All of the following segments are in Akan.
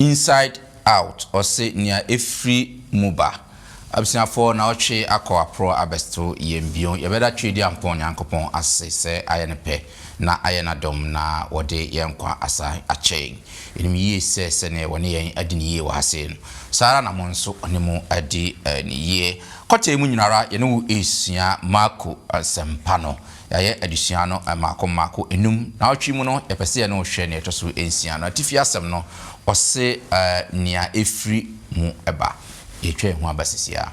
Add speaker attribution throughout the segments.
Speaker 1: Inside out ɔse nea efiri mu ba. Abusuafoɔ na ɔtwe akɔ aporɔ abɛs'to yɛn bio. Yɛbɛda Tweediampɔn Nyankopɔn ase sɛ ayɛ ne pɛ na ayɛ n'adom na wɔde yɛn nkwa asan akyɛ yɛn. Yɛnim yie sɛ sɛdeɛ wɔne yɛn adi no yie wɔ ha sei no, saa ara na mo nso wɔne mo adi no yie. Kɔtɛɛ mu nyinara yɛne wo resua Marko Asɛmpa no. Yɛayɛ adesua no mmaako mmaako, nnum. Nnawɔtwe mu no, yɛpɛ sɛ yɛne wo hwɛ nea ɛtɔ so nsia no. Atifi asɛm no, ɔse nea ɛfiri mu ba. Yɛretwa yɛn ho aba seesei ara.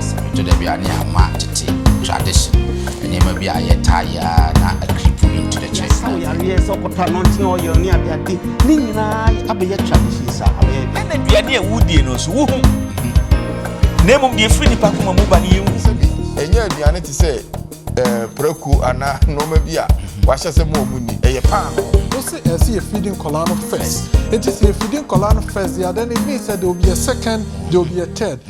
Speaker 1: Sɛ ɛtɔ da bi a ne ama tete tradition nneɛma bi a yɛtaa yɛ a na akripo bi nto dɛkyɛ. Yɛasaw yareɛ sɛ ɔkɔtɔ anɔnkye oil ne adeade ne nyinaa abɛyɛ traditions a abɛyɛ dɛ. Ɛna aduane a wodie no nso wohu. Na mmom deɛ ɛfiri nnipa koma mu ba no yɛnhu. Sɛdeɛ ɛnyɛ
Speaker 2: aduane te sɛ. ɛɛ eh, prako anaa nneɛma bi a wahyɛ sɛ mo a wɔn ni ɛyɛ paano. o se ɛsɛ yɛ
Speaker 3: fidi nkɔla no first eti sɛ yɛ fidi nkɔla no first yɛ adan ebi sɛ there will be a second there will be a third.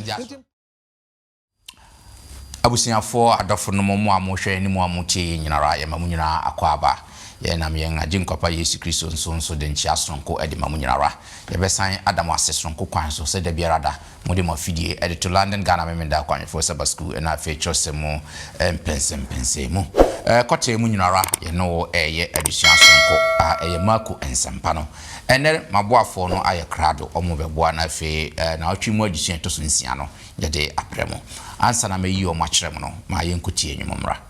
Speaker 1: abusuafoɔ adɔfo no mo a mohwɛ ne mo a motie yɛ nyinara yɛma mo nyinaa akɔ aba yɛnam yɛn agye nkwapa yesu kristo nso nso de nkyea soronko de ma mo nyinara yɛbɛsan ada mo ase soronko kwan so sɛ da biara da Mode mo afidie de to London Ghana Memeneda Akwanhwɛfoɔ Sabbath School ɛna afei twerɛsɛm mu mpɛnsɛmpɛnsɛn mu. Kɔtee mu nyinara yɛne wo reyɛ adesua sononko a ɛyɛ Marko Nsɛmpa no. Ɛnnɛ maboafoɔ no ayɛ krado, wɔn bɛboa na afei nawɔtwe mu adesua ɛtɔ so nsia no yɛde abrɛ mo. Ansa na mɛyi wɔn akyerɛ mo no, ma yɛnkɔtie nnwom mmra.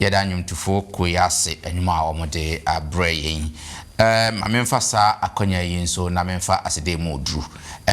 Speaker 1: Yɛda nnwomtofo kuo yi ase nnwom a wɔde abrɛ yɛn. Ma memfa saa akwanya yi nso na memfa aseda mu duru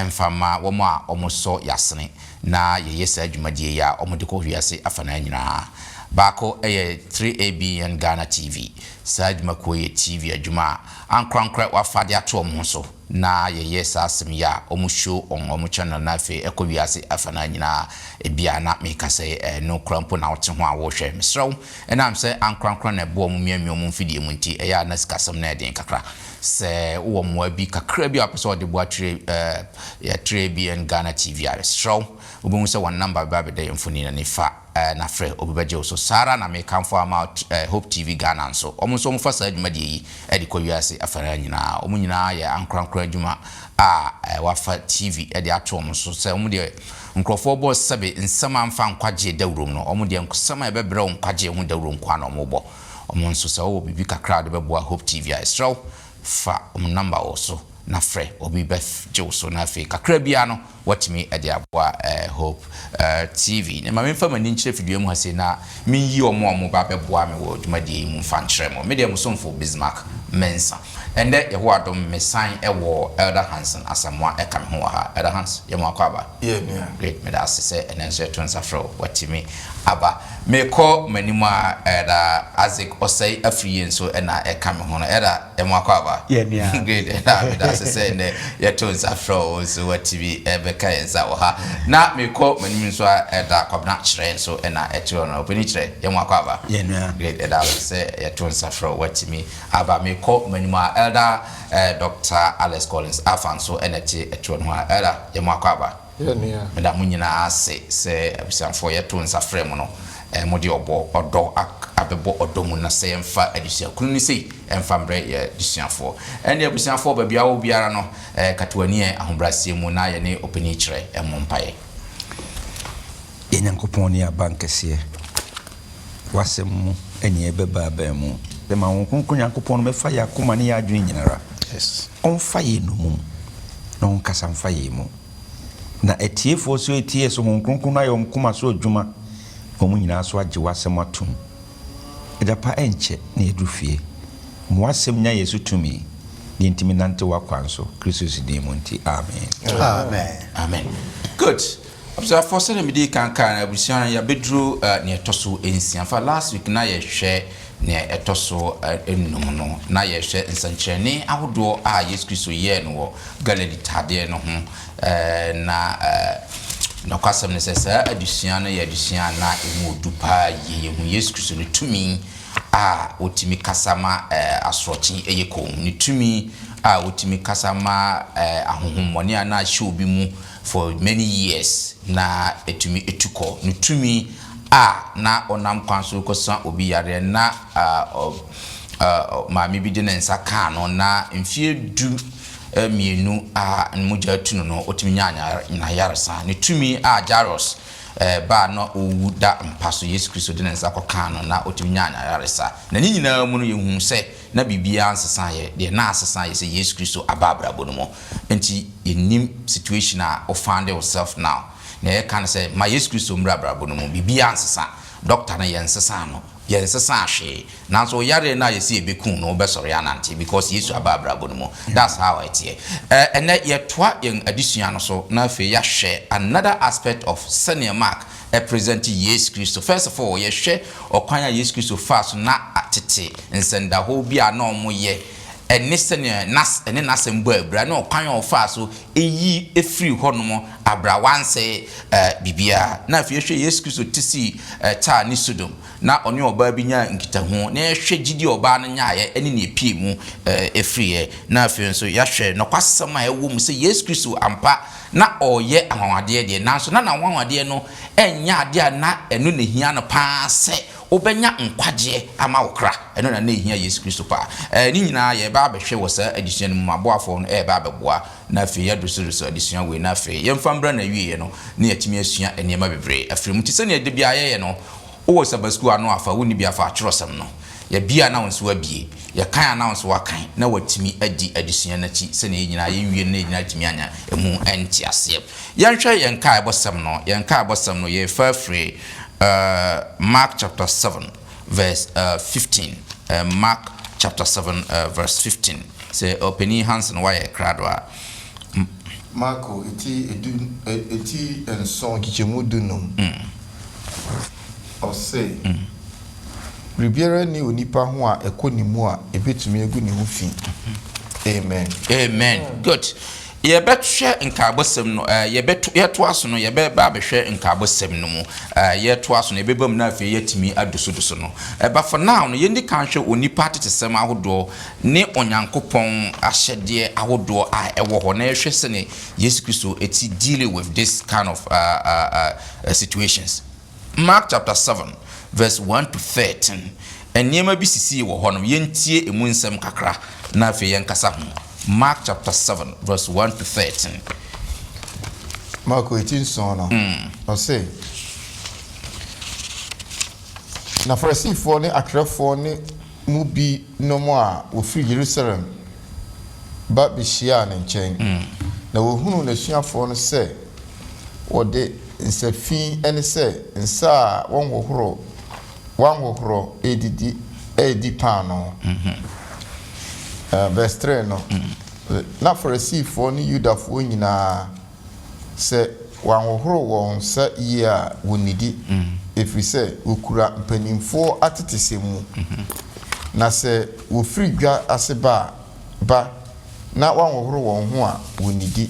Speaker 1: mfa mma wɔn a wɔsɔ yɛn asene na yɛyɛ saa dwumadie yi a wɔde kɔ wiase afanaa nyinaa. Baako yɛ 3ABN Ghana TV. Saa dwumakuo yi yɛ TV adwuma a ankorankorɛ wɔafa de ato wɔn ho so. na yɛyɛ saa asɛm yi a, wɔsuro wɔn, wɔtwɛn no, na afei ɛkɔ wiase afanaa nyinaa. Ebia na meka sɛ ɛno koraa mpo na wote ho a worehwɛ. Mesrɛ wo, ɛnam sɛ ankorankoro na ɛboa wɔn miamia wɔn mfidie mu nti, ɛyɛ a na sikasɛm no yɛ den kakra. Sɛ wowɔ mmoa bi kakra bi a wopɛ sɛ wɔde boa tire ɛ, yɛ tire ABN Ghana TV a, mesrɛ wo, wobɛhu sɛ wɔn namba bɛba abɛda yɛn mfonin no ani. Fa. Eh, na frɛ, obi bɛgye wo so. Saa ara na mekamfo ama wo t eh, Hope TV Ghana nso. Wɔn nso wɔfa saa dwumadie yi de kɔ wiase afanaa nyinaa. Wɔn nyinaa yɛ ankorankoro adwuma a eh, wɔafa TV de ato wɔn so sɛ wɔn deɛ nkurɔfoɔ bɔ sɛbe nsɛm a ɛmfa nkwagyeɛ dawurom no, wɔn deɛ nsɛm a ɛbɛbrɛ wo nkwagyeɛ ho dawuro nko ara na wɔbɔ. Wɔn nso, sɛ wowɔ biribi kakra a wode bɛboa Hope TV a, yɛsrɛ wo fa wɔn nɔmba wɔ so na frɛ, obi bɛf gye wo so na afei kakra biara no wɔatumi de aboa Hope TV. Na ma memfa m'ani nkyerɛ fidua mu ha sei na menyi wɔn a wɔba abɛboa me wɔ dwumadie yi mu mfa nkyerɛ mo. Medeɛ mo somfo Bismarck Mensah. Ɛnnɛ Yehowa adom mesan wɔ Elder Hanson Asamoah ɛka me ho wɔ ha. Elder Hans, yɛ mo akɔ aba? Yɛ nua. Great, meda ase sɛ ɛnnɛ nso yɛto nsa frɛ wo woatumi aba. Mekɔ m'anim a Elder Isaac Osei Afriyie nso na ɛka me ho no. Elder. Yɛ mo akwaaba. Yɛ nea Great ɛna meda meda ase sɛ nnɛ yɛtoo nsa frɛ wo nso watumi bɛka yɛn nsa wɔ ha. Na mekɔ m'anim nso a Ɛda Kwabena Kyerɛ nso na ɛte hɔ no. Ɔpanin Kyerɛ, yɛ mo akwaaba. Yɛ nua. Great ɛda ase sɛ yɛtoo nsa frɛ wo watumi aba. Mekɔ m'anim a Elder Doctor Alex Collins Afah nso na ɛte ɛtoɔ nohoa. Elder, yɛ mo akwaaba. yɛ nea. Meda mo nyinaa ase sɛ abusuafoɔ. Yɛto nsa frɛ mo no, mode ɔbɔ, ɔdɔ ak abɛbɔ ɔdɔ mu na sɛ yɛmfa adesua kunu no sei mfa mbrɛ y'adesuafoɔ. Ɛnde abusuafoɔ, baabi a wowɔ biara no, kata w'ani ɛ ahobrɛaseɛ mu na yɛne ɔpanin kyerɛ mmɔ mpaeɛ. Yɛn
Speaker 4: Nyankopɔn ne yɛn abankɛseɛ. W'asɛm mu nea ɛbɛba abɛn mu. Sɛ ma Honhom Kronkron Nyankopɔn no mɛfa yɛn akoma ne yɛn adwene nyinara, ɔmfa
Speaker 2: yɛn nnomum,
Speaker 4: na ɔnkasa mfa yɛn mu. Na atiefoɔ so ɛtie yɛ so Honhom Kronkron no ayɛ wɔn koma so adwuma na wɔn nyinaa so agye W'asɛm atom. Ɛda pa ɛnkyɛ na yɛaduru fie. Ma W'asɛm nya yɛn so tumi, na yɛntumi nnante W'akwan so, Kristo Yesu din mu nti, amen. Amen. Amen. Good.
Speaker 1: Abusuafoɔ sɛdeɛ medii kan kaa no abusua no yɛabɛduru neɛ ɛtɔ so nsia fa last week na yɛhwɛ neɛ ɛtɔ so nnum no na yɛhwɛ nsɛnkyerɛnne ahodoɔ a Yesu Kristo yɛɛ no wɔ Galilee tadeɛ no ho na nɔkwasɛm no sɛ saa adusua no yɛ adusua a na ɛmu ɔdu paa yie yɛhu Yesu Kristo no tumi a ɔtumi kasa ma asorɔkye ɛyɛ komm ne tumi a ɔtumi kasa ma ahohommɔne a na ahyɛ obi mu For many years, na etumi tu kɔ. Ne tumi a na ɔnam kwan so rekɔsa obi yareɛ no, na maame bi de ne nsa kaa no, na mfeɛ du mmienu a mogya atu no no, ɔtumi nyaa n'ayaresa. Ne tumi a Jairus ba a na ɔrewu da mpa so, Yesu Kristo de ne nsa kɔkaa no, na ɔtumi nyaa n'ayaresa. Na ne nyinaa mu no, yɛhunu sɛ na biribiara nsesaeɛ, deɛ na asesa yɛ sɛ Yesu Kristo aba abrabɔ no mu, nti yɛnnim situation a wo found yourself now, deɛ yɛka ne sɛ ma Yesu Kristo mmra abrabɔ no mu, biribiara nsesa, doctor no yɛnsesaa no, yɛnsesaa hwee, nanso wo yareɛ no a yɛse ɛbɛku wo no wobɛsɔre anante because Yesu aba abrabɔ no mu, that's how ɛteɛ. Ɛnnɛ yɛtoa yɛn adesua no so na afei yɛahwɛ another aspect of sɛdeɛ Mark presente Yesu Kristo. First of all, yɛhwɛ ɔkwan a Yesu Kristo faa so na tete nsɛndahɔɔ bi a na ɔmo yɛ ɛne sɛnea nas ɛne nasɛm bɔ abira ne ɔkwan a ɔfaa so eyi efiri hɔ nom abira wansɛɛ eh biribiara. Na afei yɛhwɛ Yesu Kristo ti sii eh Tyre ne Sodom na ɔne ɔbaa bi nyaa nkitaho na yɛhwɛ gyidi a ɔbaa no nyaeɛ ɛne nea epiemu eh efiriɛ na afei nso yɛahwɛ nɔkwasɛm a ɛwɔ mu sɛ Yesu Kristo ampa Ná ɔreyɛ anwanwadeɛ deɛ, nanso na n'anwanwadeɛ no nyɛ adeɛ a na ɛno na ɛhia no pa ara sɛ wobɛnya nkwagyeɛ ama wo kra. Ɛno na na ɛhia Yesu Kristo pa ara. Ne nyinaa yɛreba abɛhwɛ wɔ saa adesua no mu. M'aboafoɔ no reba abɛboa, na afei yɛaduru so resɔ adesua wei, na afei yɛmfa mmra n'awieeɛ no na yɛatumi asua nneɛma bebree afiri mu. Te sɛdeɛ da biara yɛyɛ no, Wowɔ Sabbath School ano a, fa wo nibea fa atwerɛsɛm no. Yɛabue a na wo nso woabue. Yɛkan a na wo nso woakan, na woatumi adi adesua no akyi sɛnea yɛn nyinaa yɛnwie no na yɛn nyinaa atumi anya ɛmu nteaseɛ. Yɛnhwɛ yɛn nkaebɔsɛm no. Yɛn nkaebɔsɛm no, yɛrefa afiri Mark chapter seven verse fifteen. Mark chapter seven verse fifteen. Sɛ Ɔpanin Hanson woayɛ krado a.
Speaker 2: Marko ti edu eti nson nkyekyɛmu du num, ɔse, Biribiara nni onipa ho a ɛkɔ ne mu a ɛbɛtumi agu ne ho fi. Amen. Amen.
Speaker 1: Good. Yɛbɛhwɛ nkaabɔsɛm no, eh, yɛbɛto, yɛtoa so no, yɛbɛba abɛhwɛ nkaabɔsɛm no mu. Eh, yɛtoa so no, yɛbɛba mu na afei yɛatumi adosodoso no. Eh, but for now no, yɛndi kan hwɛ onipa atetesɛm ahodoɔ ne Onyankopɔn ahyɛdeɛ ahodoɔ a ɛwɔ hɔ na yɛhwɛ sɛdeɛ Yesu Kristo ti deal with this kind of situations. Mark chapter seven verse one to thirteen, nneɛma bi sisii wɔ hɔ nom, yɛntie ɛmu nsɛm kakra na afei yɛnkasa ho. Mark chapter seven verse one to thirteen.
Speaker 2: Marko eti nson no, mm. ɔse, na Farisifoɔ ne atwerɛfoɔ ne mu bi nom a wɔfiri Yerusalem ba bɛhyiaa ne nkyɛn, na wɔhunuu n'asuafoɔ no sɛ wɔde nsa fi ɛne sɛ nsa a wɔnhohoro wɔanhohorɔ redidi redi paanoo. Verse three no, Na Farisifoɔ ne Yudafoɔ nyina ara. Sɛ wɔanhohoro wɔn nsa yie a, wɔnnidi, ɛfiri sɛ wɔkura mpanimfoɔ atetesɛm mu. Na sɛ wɔfiri dwa ase ba a, ba, na wɔanhohoro wɔn ho a, wɔnnidi.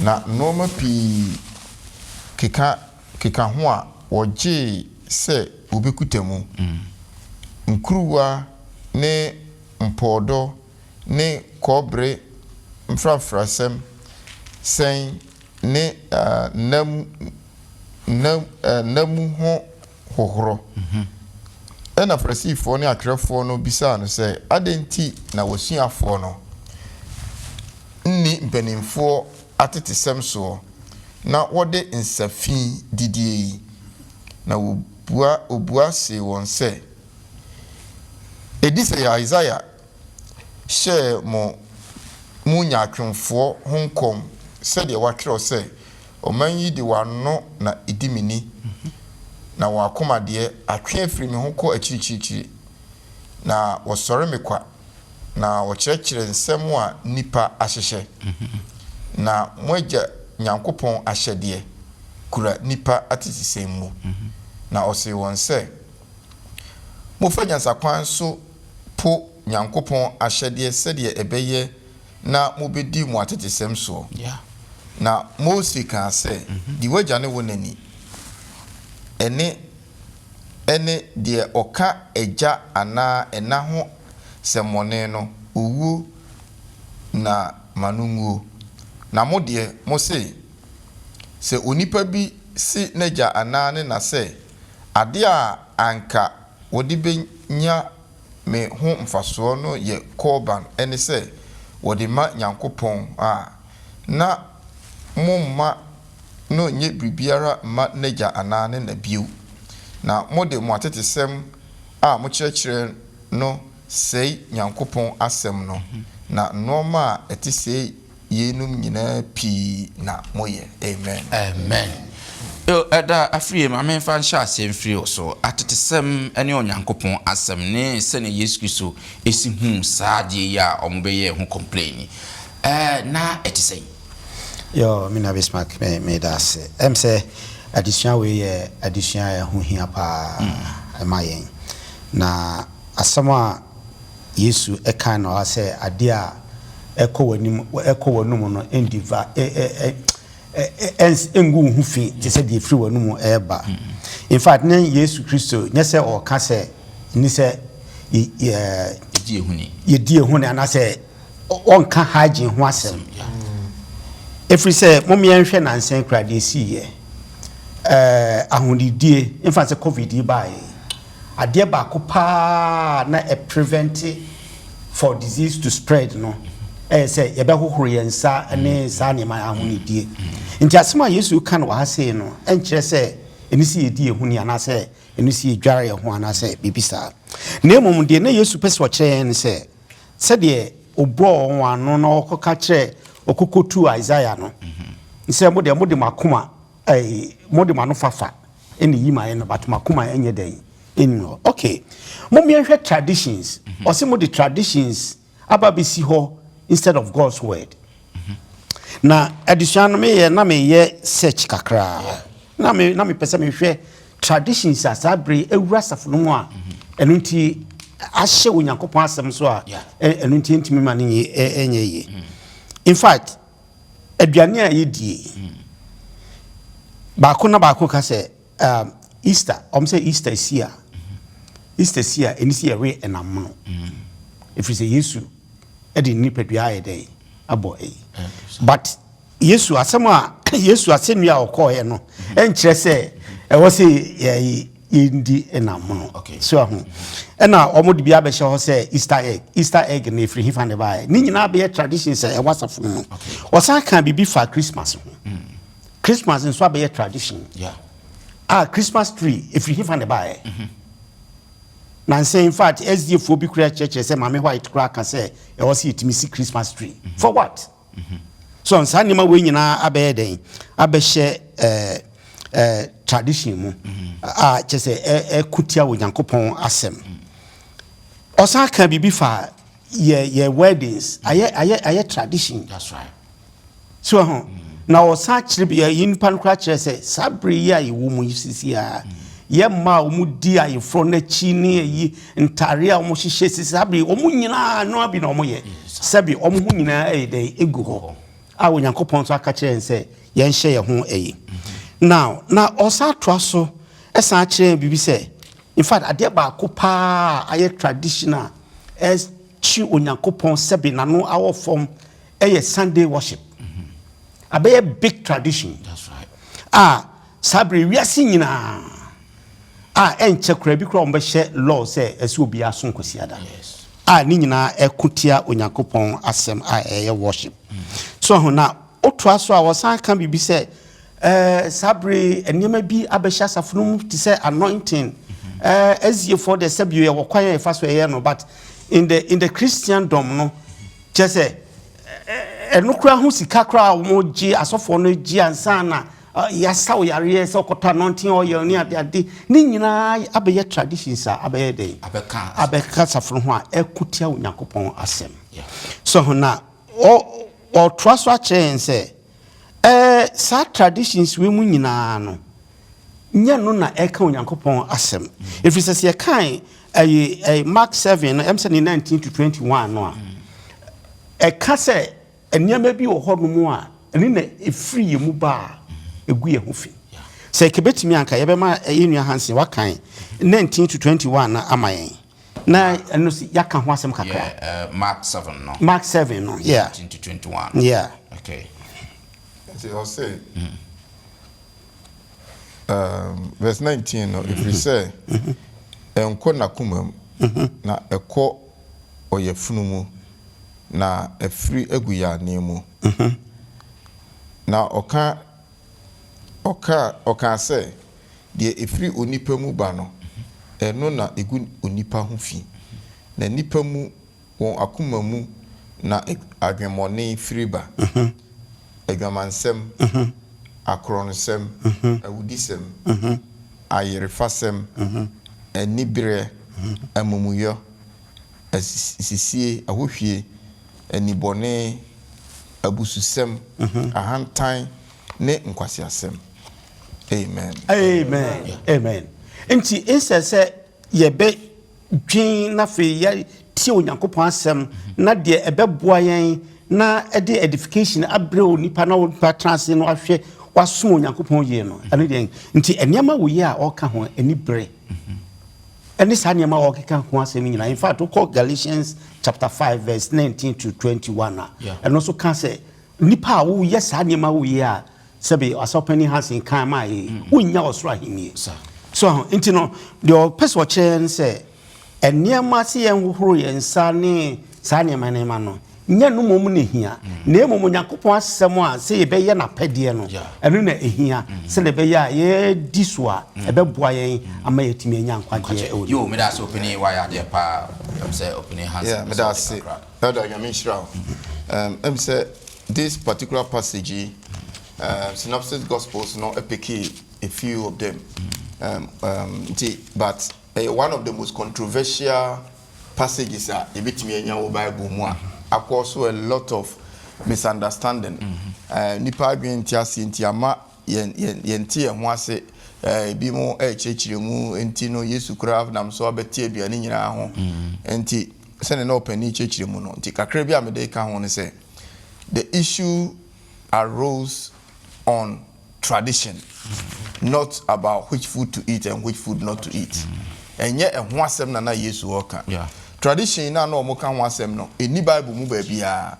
Speaker 2: Na nnoɔma pii keka keka ho a wɔgyee sɛ wɔbɛkuta mu, nkuruwa ne mpɔɔdɔ, ne kɔbere mfrafrasɛm sɛn ne nna mu nna nna mu ho hohoro. Ɛnna Farisifoɔ ne atwerɛfoɔ no bisaa no sɛ, Adɛn nti na w'asuafoɔ no nni mpanimfoɔ atetesɛm soɔ na wɔde nsa fi didie yi? Na wɔbua wɔbua see wɔn sɛ, Ɛdi sɛ Yesaia hyɛɛ mo mu nyaatwomfoɔ ho nkɔm sɛdeɛ wɔatwerɛ sɛ, Ɔman yi de wɔn ano na ɛdi me ni, na wɔn akoma deɛ, atwe afiri me ho kɔ akyirikyirikyiri, na wɔsɔre me kwa, na wɔkyerɛkyerɛ nsɛm a nnipa ahyehyɛ, na mo agya Nyankopɔn ahyɛdeɛ kura nnipa atetesɛm mu. Na ɔsee wɔn sɛ, Mofa nyansakwan so po Nyankopɔn ahyɛdeɛ sɛdeɛ ɛbɛyɛ na mobɛdi mo atetesɛm soɔ. Na Mose kaa sɛ, Di w'agya ne wo na ni. Ɛnne, ɛne, deɛ ɔka agya anaa ɛna ho sɛmmɔne no, owuo na ma no nwuo. Na mo deɛ, mo se, Sɛ onipa bi se n'agya anaa ne na sɛ, Adeɛ a anka wɔde bɛnya me ho mfasoɔ no yɛ Korban, ɛne sɛ, wɔde ma Nyankopɔn a, na mo mma no nnyɛ biribiara mma n'agya anaa ne na bio, na mode mo atetesɛm a mokyerɛkyerɛ no sɛe Nyankopɔn asɛm no, na nnoɔma a ɛte sei yeinom nyinaa pii na moyɛ. Amen. Amen. O
Speaker 1: ɛda afie, ma memfa nhyɛ aseɛ mfiri wo so. Atetesɛm ne Onyankopɔn Asɛm ne sɛdeɛ Yesu Kristo si huu saa adeɛ yi a wɔbɛyɛɛ ho kɔmplɛɛni, ɛɛ, na ɛte sɛn? Yo,
Speaker 5: me nua Bismarck, me, meda ase. Ɛm sɛ adesua wei yɛ adesua a ɛho hia paa ɛma yɛn. Na asɛm a. Yesu kae no ara sɛ, Ade a ɛkɔ w'anim, ɛkɔ w'anom no, ndi va, ngu wo ho fi te sɛ deɛ ɛfiri w'anom reba. In fact, ne Yesu Kristo, nyɛ sɛ ɔreka sɛ, nni sɛ yɛdi ehuni anaasɛ ɔnka hygiene ho asɛm. Ɛfiri sɛ, mom yɛnhwɛ nansa kura deɛ ɛsiiɛ, ahonidie, mfa sɛ covid yi baeɛ. Adeɛ baako paa a na ɛ prevente for disease to spread no ɛyɛ sɛ yɛbɛhohoro yɛn nsa ne saa nneɛma yi ahonidie. Nti asɛm a Yesu reka no wɔ ha sei no ɛnkyerɛ sɛ ɛni sɛ yɛdi yɛn ho ni anaasɛ ɛni sɛ yɛdware yɛn ho anaasɛ biribi saa. Na mmom deɛ na Yesu pɛ sɛ ɔkyerɛ yɛn ne sɛ sɛdeɛ ɔbɔɔ wɔn ano na ɔkɔka kyerɛɛ ɔkɔkɔtuu Isaiah no sɛ mo deɛ mode mo akoma Ei mo de mo ano fafa ɛna eyi ma yɛ no but mo akoma ɛnyɛ dɛn ɛnni hɔ ok mom yɛnhwɛ traditions mhm. ɔsi mo de traditions aba bɛsi hɔ instead of God's word mhm. na adesua no meyɛ na meyɛ search kakra na me na mepɛ sɛ mehwɛ traditions a saa bere awura asafo no mu a mhm. ɛno nti ahyɛ onyankopɔn asɛm so a ɛno nti ɛntumi ma no nyɛ ɛnyɛ yie in fact. aduane a yɛdie baako na baako ka sɛ um, easter ɔm sɛ easter si a easter si a ɛni sɛ yɛwe ɛnam mono ɛfiri sɛ yesu de ne nipadua ayɛ dɛn abɔ ɛyi but yesu asɛm a yesu asɛnnua a ɔkɔɔeɛ no ɛnkyerɛ sɛ ɛwɔ sɛ yɛyi yɛndi ɛnamono so ahu ɛna wɔn de bi abɛhyɛ hɔ sɛ easter egg easter egg na efiri hifa ne baayɛ ne nyinaa bɛyɛ tradition sɛ ɛwɔ asafo mu wɔsan kan biribi fa christmas ho hmm. christmas nso abɛyɛ tradition a christmas tree efiri hifa ne baayɛ mhm. na nsɛn in fact sdfoɔ bi kura kyerɛkyerɛ sɛ maame white kura ka sɛ ɛwɔ sɛ yɛtumi si christmas tree mhm. for what. Mm -hmm. So saa nneɛma wei nyinaa abɛyɛ dɛn? Abɛhyɛ ɛɛ ɛɛ tradition mu a kyɛ sɛ ɛko tia Onyankopɔn asɛm. Ɔsan ka biribi fa yɛ yɛ weddings ayɛ ayɛ ayɛ tradition. That's right.
Speaker 1: So ho
Speaker 5: na ɔsan kyerɛ bi yɛ nipa no koraa kyerɛ sɛ saa bere yi a yɛwɔ mu yi sisi a yɛ mmaa a wɔn di ayeforɔ n'akyi ne ayi. Ntadeɛ a wɔhyehyɛ sisi saa bere wɔn nyinaa nnoa bi na wɔyɛ sɛbi wɔn ho nyinaa ɛyɛ dɛn egu hɔ a Onyankopɔn nso aka kyerɛ yɛn sɛ yɛnhyɛ yɛn ho ɛyi now na ɔsan atoa so ɛsan akyerɛ yɛn biribi sɛ in fact adeɛ baako paa ayɛ traditional ɛkyi Onyankopɔn sɛbi n'ano awɔ fam ɛyɛ Sunday worship abɛyɛ big tradition
Speaker 1: a. Saa bere yi, wiase
Speaker 5: nyinaa a ɛnkyɛ koraa bi koraa wɔbɛhyɛ law sɛ ɛsɛ sɛ obiara som Kwasiada, a ne
Speaker 1: nyinaa
Speaker 5: ɛko tia Onyankopɔn asɛm a ɛyɛ worship. So ahu? Na ɔtoa so a ɔsan ka biribi sɛ, eh, saa bere yi nneɛma bi abɛhyɛ asafo no mu te sɛ anointing. Eh, Asiafoɔ deɛ sɛ bio yɛwɔ kwan a yɛfa so ɛyɛ no, but in the in the Christendom no, kyerɛ sɛ ɛno koraa ho sika koraa a wɔgye asɔfoɔ no gye ansa na Yasa wo yareɛ sɛ ɔkɔtɔ anointing oil ne ade ade ne nyinaa abɛyɛ traditions a abɛyɛ dɛn abɛka abɛka safo ho a ɛko tia Onyankopɔn asɛm so ho na ɔtoa so akyerɛ yɛn sɛ ɛɛ saa traditions wei mu nyinaa no nyɛ no na ɛka Onyankopɔn asɛm ɛfiri sɛ sɛ yɛkae ɛyɛ Mark 7 no ɛm sɛ ne 19 to 21 no a ɛka sɛ Nneɛma bi wɔ hɔnom a ɛno na ɛfiri yɛn mu ba a, ɛgu yɛn ho fi. Sɛ anka ɛbɛtumi a, anka yɛbɛma yɛn nua Hansen wakan 19 to 21 no ama yɛn, na ɛno nso yɛaka ho asɛm kakra. Yeah, uh, Mark 7 no.
Speaker 1: Mark 7 no, yeah. 19 to 21. Yeah. Okay.
Speaker 2: Nti ɔse, mm. um, verse 19 no, ɛfiri sɛ, ɛnkɔ n'akoma mu, na ɛkɔ ɔyafunu mu, na afiri agu yɛn anan mu. Na ɔka, ɔka, ɔkaa sɛ, Deɛ ɛfiri onipa mu ba no, ɛno na ɛgu onipa ho fi, na nnipa mu, wɔn akoma mu na adwemmɔne firi ba. adwamansɛm, akorɔnsɛm, awudisɛm, ayerefasɛm, anibereɛ, amumuyɔ, asisie, ahohwie, anibɔne, abususɛm, ahantan, ne nkwaseasɛm. Amen. Amen. Amen. Nti, nsɛ sɛ yɛbɛ. dwen na afei yɛatie Onyankopɔn asɛm na deɛ ɛbɛboa yɛn na ɛde edification abrɛ onipa na onipa tena ase no ahwɛ wasom Onyankopɔn yie no ɛno deɛ nti nneɛma wɔ yi a ɔka ho ani bere ɛne saa nneɛma a ɔkeka ho asɛm nyinaa in fact wokɔ Galatians chapter 5 verse 19 to 21 a ɛno nso ka sɛ Nnipa a woyɛ saa nneɛma wo yi a sɛbe Asɔfo Panyin Hansen kan maa yɛ yi, wonnya ɔsoro ahenni. So aho? Nti no, deɛ ɔpɛ sɛ ɔkyerɛ yɛn ne sɛ, nneɛma sɛ yɛnhohoro yɛn nsa ne saa nneɛma nneɛma no, nyɛ ɛno mmom na ehia, na mmom Onyankopɔn Asɛm a sɛ yɛbɛyɛ n'apɛdeɛ no, ɛno na ehia, sɛdeɛ ɛbɛyɛ a yɛadi so a, ɛbɛboa yɛn ama yɛatumi anya nkwagyeɛ wɔ ne mu. Yoo, meda ase Opanin,
Speaker 1: wayɛ adeɛ paa. Ɛm sɛ Opanin Hansen bɛsɛ wo de kakra.
Speaker 2: Elder Nyame nhyira wo. Erm em sɛ this particular passage yi erm synopsis gospels no ɛpekee a few of them erm erm nti but ɛyɛ one of the most controversial passages a yɛbɛtumi anya wɔ bible mu a akɔ so a lot of misunderstanding erm nnipa adwene nte aseɛ nti ama yɛn yɛn yɛnte yɛn ho ase erm ebi mo ɛrekyerɛkyerɛ mu nti no Yesu koraa nam so abɛte aduane nyinaa ho nti Sɛnea na ɔpɛ ne kyerɛkyerɛ mu no nti, kakra bi a mede reka ho ne sɛ, The issue arose on tradition, not about which food to eat and which food not to eat. Ɛnyɛ ɛho asɛm na na Yesu reka. Tradition no a na wɔka ho asɛm no, ɛnni Bible mu baabiara.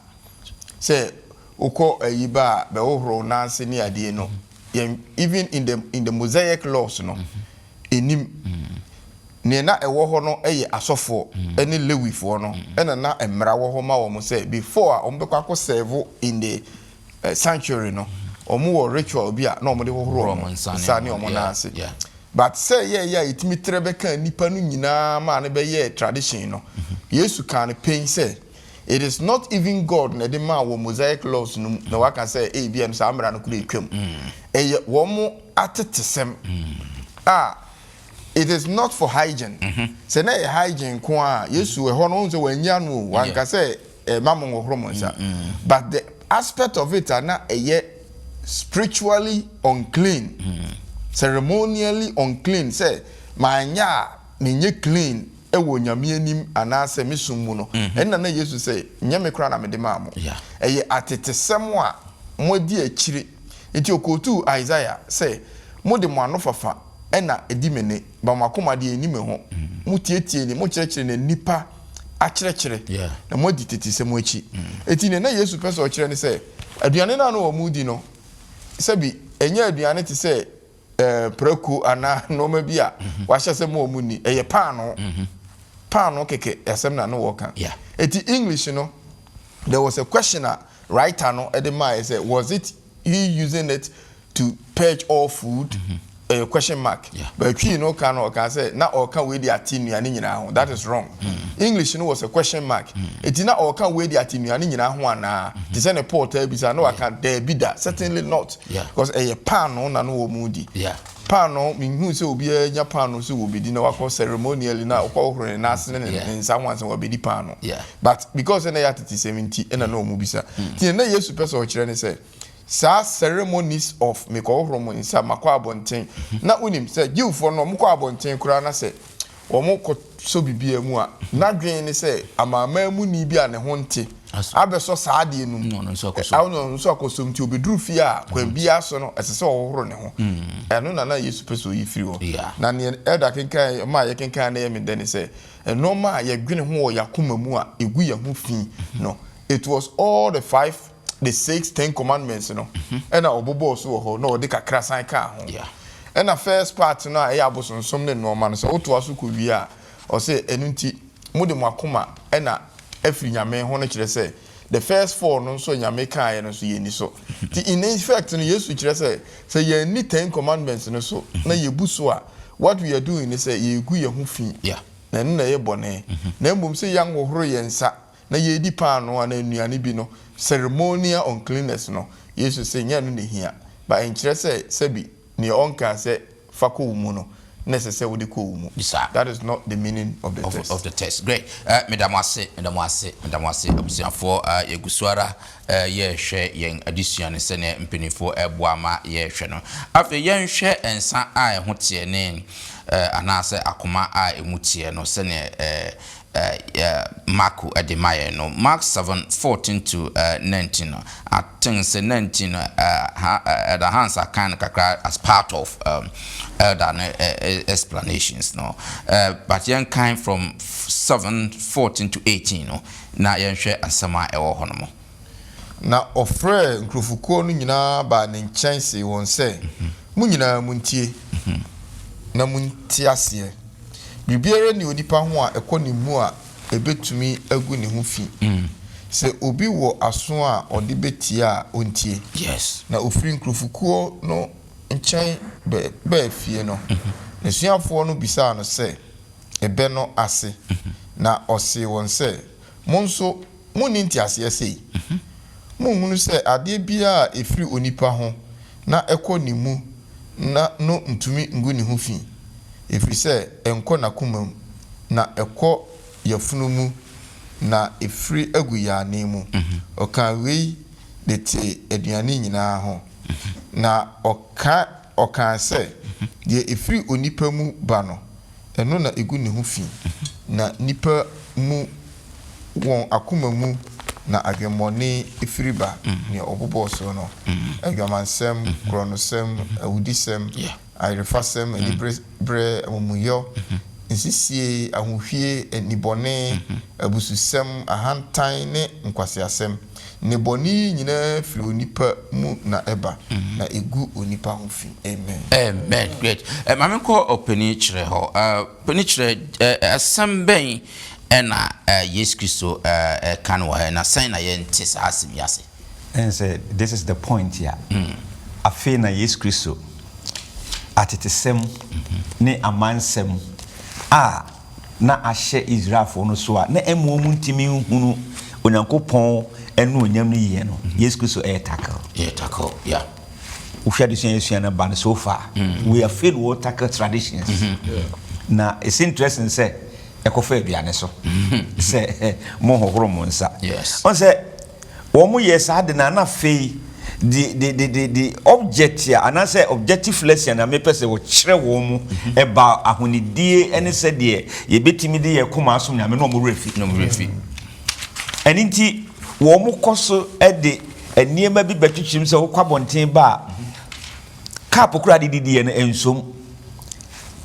Speaker 2: Sɛ wokɔ ayi ba a, bɛhohoro wo nan ase ne adeɛ no, yɛn even in the in the mosaic laws no ɛnim nea na ɛwɔ hɔ no yɛ asɔfoɔ ne lewifoɔ no ɛna na mmara wɔ hɔ ma wɔn sɛ before a wɔn bɛkɔ akɔ serve in the eh, sanctuary no wɔn wɔ ritual bi a na wɔn de hohoro Hohoro wɔn wɔn nsa ne nsa ne wɔn- wɔn nan yeah, ase yeah. but sɛ yɛyɛ a yɛtumi trɛ bɛka nnipa no nyinaa maa no bɛyɛɛ tradition no yesu kaa no pɛn sɛ It is not even God na ɛde maa wɔ Mosaic laws no mu na waka sɛ ebia no saa mmara no koro atwam. Ɛyɛ wɔn atetesɛm a it is not for hygiene. Mm-hmm. Sɛ na ɛyɛ hygiene nko a Yesu ɛhɔ no wɔn sɛ wɔn anyi ano o wanka sɛ ɛma mo nhɔhoro mo nsa. But the aspect of it a na ɛyɛ spiritually unclean, mm. ceremonially unclean sɛ manyɛ a menyɛ clean. wɔ Nyame anim anaasɛ me som mu no, ɛnna na Yesu sɛ, Nyɛ me koraa na mede maa mo. Ɛyɛ atetesɛm a moadi akyire. Enti ɔkootuu Isaiah sɛ, Mode mo anofafa na ɛdi me nne, ba mo akoma deɛ ɛnni me ho. Motiatia ni, mokyerɛkyerɛ na nnipa akyerɛkyerɛ, na moadi tetesɛm akyi. Enti deɛ na Yesu pɛ sɛ ɔkyerɛ ne sɛ, aduane no a na wɔredi no, sɛbi ɛnyɛ aduane te sɛ eh, prako anaa nnoɔma bi a mhm. wahyɛ sɛ ma ɔmu ni ɛyɛ paano mhm. paano kɛkɛ asɛm na ne wɔka ɛti english no there was a question a writer no ɛde maaɛ sɛ was it he using it to purge all food mhm. ɛyɛ question mark but twii no ka no ɔka sɛ na ɔka wei de ate nnuane nyinaa ho that is wrong english no was a question mark ɛti na ɔka wei de ate nnuane nyinaa ho anaa te sɛ ne paul taa bisa na waka daabi da certainly not Because ɛyɛ paanoo na no wɔn di. Paanoo mehuu sɛ obiara nya paanoo sɛ wɔbɛdi na wakɔ ceremonially na ɔkɔ hohoro ne nan ase ne ne nsa ho ansa wɔbɛdi paanoo. But because ɛna ɛyɛ atetesɛm nti ɛna na wɔn bisa. Nti deɛ na Yesu pɛ sɛ ɔkyerɛ ne sɛ saa ceremonies of mekɔhohoro mo nsa makɔ abɔnten na wonim sɛ Jewfoɔ no wɔkɔ abɔnten koraa na sɛ wɔkɔsɔ biribiara mu a, n'adwene ne sɛ Amanaman muni bi a ne ho nte abɛsɔ saa adeɛ no mu, na ɔne ɔno nso akɔsɔ mu, nti ɔbɛduru fie a, kwan biara so no, ɛsɛ sɛ ɔhohoro ne ho. Ɛno na na Yesu pɛ sɛ ɔyi firi hɔ. Na deɛ Elder kenkan, ɔma a yɛkenkan na ɛyɛ me dɛ ne sɛ, nnoɔma a yɛdwene ho wɔ yɛn akoma mu a ɛgu yɛn ho fi no, it was all the five the six ten commandments no ɛna ɔbobɔɔ so wɔ hɔ na ɔde kakra san kaa ho ɛna first part no a ɛyɛ abosonsom ne nnoɔma no sɛ wotoa so kɔ wie a ɔsɛ ɛno nti mode mo akoma ɛna afiri Nyame ho no kyerɛ sɛ the first four no nso a Nyame kaeɛ no nso yɛnni so nti in effect no Yesu kyerɛ sɛ sɛ yɛanni ten commandments no so na yɛbu so a what we are doing ne sɛ yɛregu yɛn ho fi na ɛno na ɛyɛ bɔne na mmom sɛ yɛanhohoro yɛn nsa na yɛredi paanoo anaa nnuane bi no, ceremonial uncleanness no, Yesu se nyɛ ɛno na ehia, but ɛnkyerɛ sɛ sɛbi nea ɔnkaa sɛ fa kɔ wo mu no na ɛsɛ sɛ wode kɔ wo mu. Bisa. That is not the meaning of the text. Of the text. Great. Eh,
Speaker 1: meda mo ase, meda mo ase, meda mo ase, abusuafoɔ. Eh, yɛgu so ara eh, yɛrehwɛ yɛn adesua no sɛdeɛ mpanimfoɔ ɛboa ma yɛrehwɛ no. Afei yɛnhwɛ nsa a ɛho teɛ ne eh, anaasɛ akoma a ɛmu teɛ no sɛdeɛ eh, Marko de ma yɛn no, Mark seven, fourteen to nineteen no, I think sɛ nineteen no Elder Hans akan no kakra as part of Elder no explanations no, but yɛnkan from seven, fourteen to eighteen no na yɛnhwɛ asɛm a ɛwɔ hɔ no mu. Na
Speaker 2: ɔfrɛɛ nkurɔfokuo no nyinaa baa ne nkyɛn see wɔn sɛ, Mo nyinaa montie, na monte aseɛ. Biribiara nni onipa ho a ɛkɔ ne mu a ɛbɛtumi agu ne ho fi. Sɛ obi wɔ aso a ɔde bɛtie a, ɔntie. Na ɔfirii nkurɔfokuo no nkyɛn baa fie no, n'asuafoɔ no bisaa no sɛ, Ɛbɛ no ase? Na ɔsee wɔn sɛ, Mo nso Monni nteaseɛ sei? Monhunu sɛ adeɛ biara a ɛfiri onipa ho na ɛkɔ ne mu na no ntumi ngu ne ho fi, ɛfiri sɛ ɛnkɔ n'akoma mu, na ɛkɔ yafunu mu na ɛfiri agu yɛn anan mu? Ɔkaa wei de tee aduane nyina ara ho, na ɔka. Ɔkaa sɛ, Deɛ ɛfiri onipa mu ba no, ɛno na ɛgu ne ho fi, na nnipa mu, wɔn akoma mu na adwemmɔne firi ba, deɛ ɔbobɔɔ soɔ no, adwamansɛm, korɔnosɛm, awudisɛm, ayerefasɛm, aniberɛ, amumuyɔ, nsisie, ahohwie, nnibɔne, abususɛm, ahantan ne nkwaseasɛm. Nnebɔne yi nyinaa firi onipa mu na ɛba, na ɛgu onipa ho fi. Amen. Amen
Speaker 1: great eh, ma me nkɔ ɔpanin kyerɛ hɔ eh, panin kyerɛ eh, asɛm bɛn ɛna eh, Yesu Kristo eh, ɛka no wɔ ha na sɛn na yɛnte saa asɛm yi ase. Ɛne sɛ
Speaker 4: this is the point a afei na Yesu Kristo atetesɛm ne amansɛm a. na ahyɛ Israelfo no so a na ɛma wɔntumi nhunu Onyankopɔn anuonyam no yie no, mhm. Yesu Kristo ɛyɛ tackle. Ɛyɛ tackle,
Speaker 1: yeah. Wohwɛ
Speaker 4: de sua yɛsua no ba no so far. Mm. We are fail wɔ tackle traditions. Mm-hmm. Na it's interesting sɛ ɛkɔfa aduane so sɛ mohohoro mo nsa. Ɔn sɛ Wɔyɛɛ saa de na na afei de de de de de object a anaasɛ objective lesson a mepɛ sɛ wɔkyerɛ wɔn mu ba ahonidie ne sɛdeɛ yɛbɛtumi de yɛn koma asom Nyame no wɔn werɛ fi wɔn werɛ fi. Ɛno nti wɔkɔ so de nneɛma bi bɛtwetwem sɛ wokɔ abɔnten ba a cup koraa a wode didiiɛ no ɛnsom.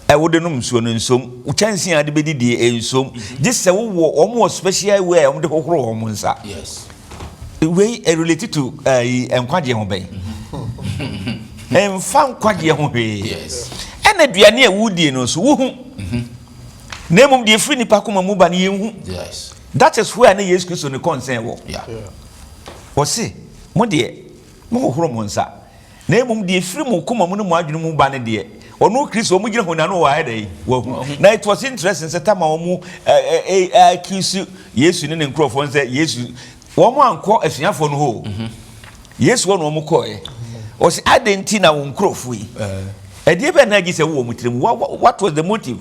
Speaker 4: a wode nom nsuo no nsom, wo kyɛnsee a wode bɛdidie nsom, gye sɛ wowɔ wɔn wɔ special way a wɔde hohoro wɔn nsa.
Speaker 1: Yes. Wei
Speaker 4: relate to ayi uh, nkwagyeɛ ho bɛn? Mfa nkwagyeɛ ho hwee. Yes. Ɛna
Speaker 1: aduane a
Speaker 4: wodie no nso wohu. Mm-hmm. Na mmom deɛ ɛfiri nipa koma mu ba no yɛnhu. Yes. That
Speaker 1: is where ne
Speaker 4: Yesu Kristo ne concern wɔ. Yeah. Ɔse, mo deɛ, mo hohoro mo nsa. Na mmom deɛ ɛfiri mo koma mu ne mo adwene mu ba no deɛ, ɔno Kristo, wɔn gyina honi ano wɔ ayɛ dɛn? Wahu. Na it was interesting sɛ tam a wɔn a accuse Yesu ne ne nkurɔfoɔ no sɛ Yesu, wɔn ankɔ asuafoɔ no hɔ o. Yesu hɔ na wɔn kɔɔɛ. Ɔse, adɛn nti na wo nkurɔfoɔ yi, ɛdeɛ bɛn na agye sɛ wowɔ mo tiri mu? What was the motive?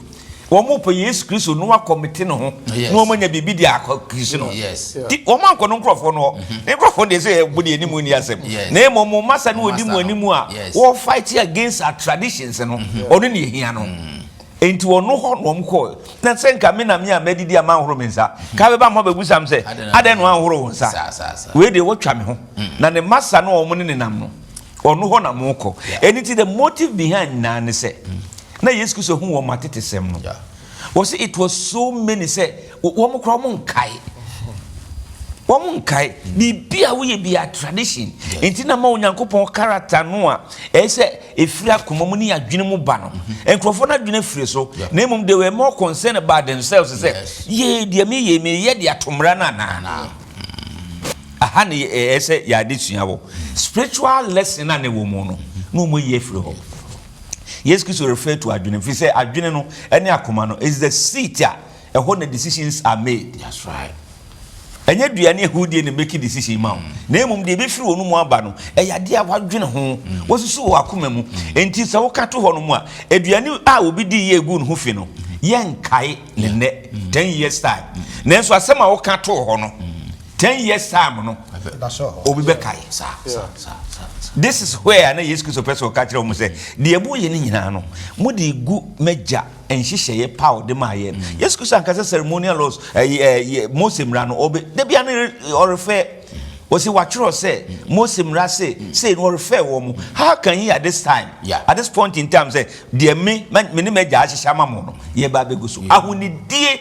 Speaker 4: wɔpɛ yesu kristo na wɔakɔmete ne ho na wɔanya biribi de akɔkirisi no nti wɔn ankɔ
Speaker 1: no nkurɔfoɔ
Speaker 4: no hɔ mm-hmm. ne nkurɔfoɔ deɛ sɛ ɛbo deɛ anim ni asɛm na mmom mo masa no wɔdi mu anim a wɔfight against our traditions no mm-hmm. ɔno ne ɛhia no mm-hmm. nti ɔno hɔ na wɔn kɔɔ na sɛ nka me na me a madidi a manhoro me nsa ka bɛba ma bɛbu sam sɛ adɛn na wanhoro wo nsa wei deɛ wɔtwa me ho na ne masa no wɔn ne nenam no ɔno hɔ na mokɔ ɛno nti the motive behind nyinaa ne sɛ na yesu kristo hu wɔn atetesɛm no wɔ sɛ it was so many sɛ wɔn kora wɔn nkae wɔn nkae biribi a woyɛ bi a tradition nti na ma onyankopɔn character no a ɛyɛ sɛ ɛfiri akoma mu ne adwene mu ba no nkurɔfoɔ no adwene firi so na mmom they were more concerned about themselves sɛ yee deɛ meyɛ meyɛ de atomra no anaa Aha na ɛyɛ sɛ yɛ adesua wɔ. Spiritual lesson a na ɛwɔ mu no, na wɔn ayi afiri hɔ. Yesu Kristo refer to adwene, ɛfiri sɛ adwene no ne akoma no is the seat a ɛhɔ na decisions are made. That's right.
Speaker 1: Ɛnyɛ
Speaker 4: dua ne ahudeɛ na make decision ma wo, na mmom deɛ ɛbɛfiri wɔn mu aba no, ɛyɛ adeɛ a wadwene ho, wasusu wɔ akoma mu. Enti sɛ woka to hɔ nom a, aduane a obi di yɛ gu ne ho fi no, yɛnkae. ne nnɛ ten years time nanso asɛm a woka too hɔ no ten years time no obi bɛkae saa this is where na yesu kristo pɛ sɛ ɔka kyerɛ wɔn sɛ deɛ moyɛ no nyinaa no mode gu m'agya nhyehyɛeɛ paw de maa yɛn mm. yesu kristo ankasa ceremonial laws ɛyɛ eh, eh, eh, mose mmara no ɔbɛ dabi ano ɔrefɛ wɔsi watwerɛ sɛ mose mmara se sei no ɔrefɛ wɔn how can he at this time yeah. at this point in time sɛ Deɛ me, me ne m'agya ahyehyɛ ama mo no, yɛba abɛgu so. Mm-hmm. Ahonidie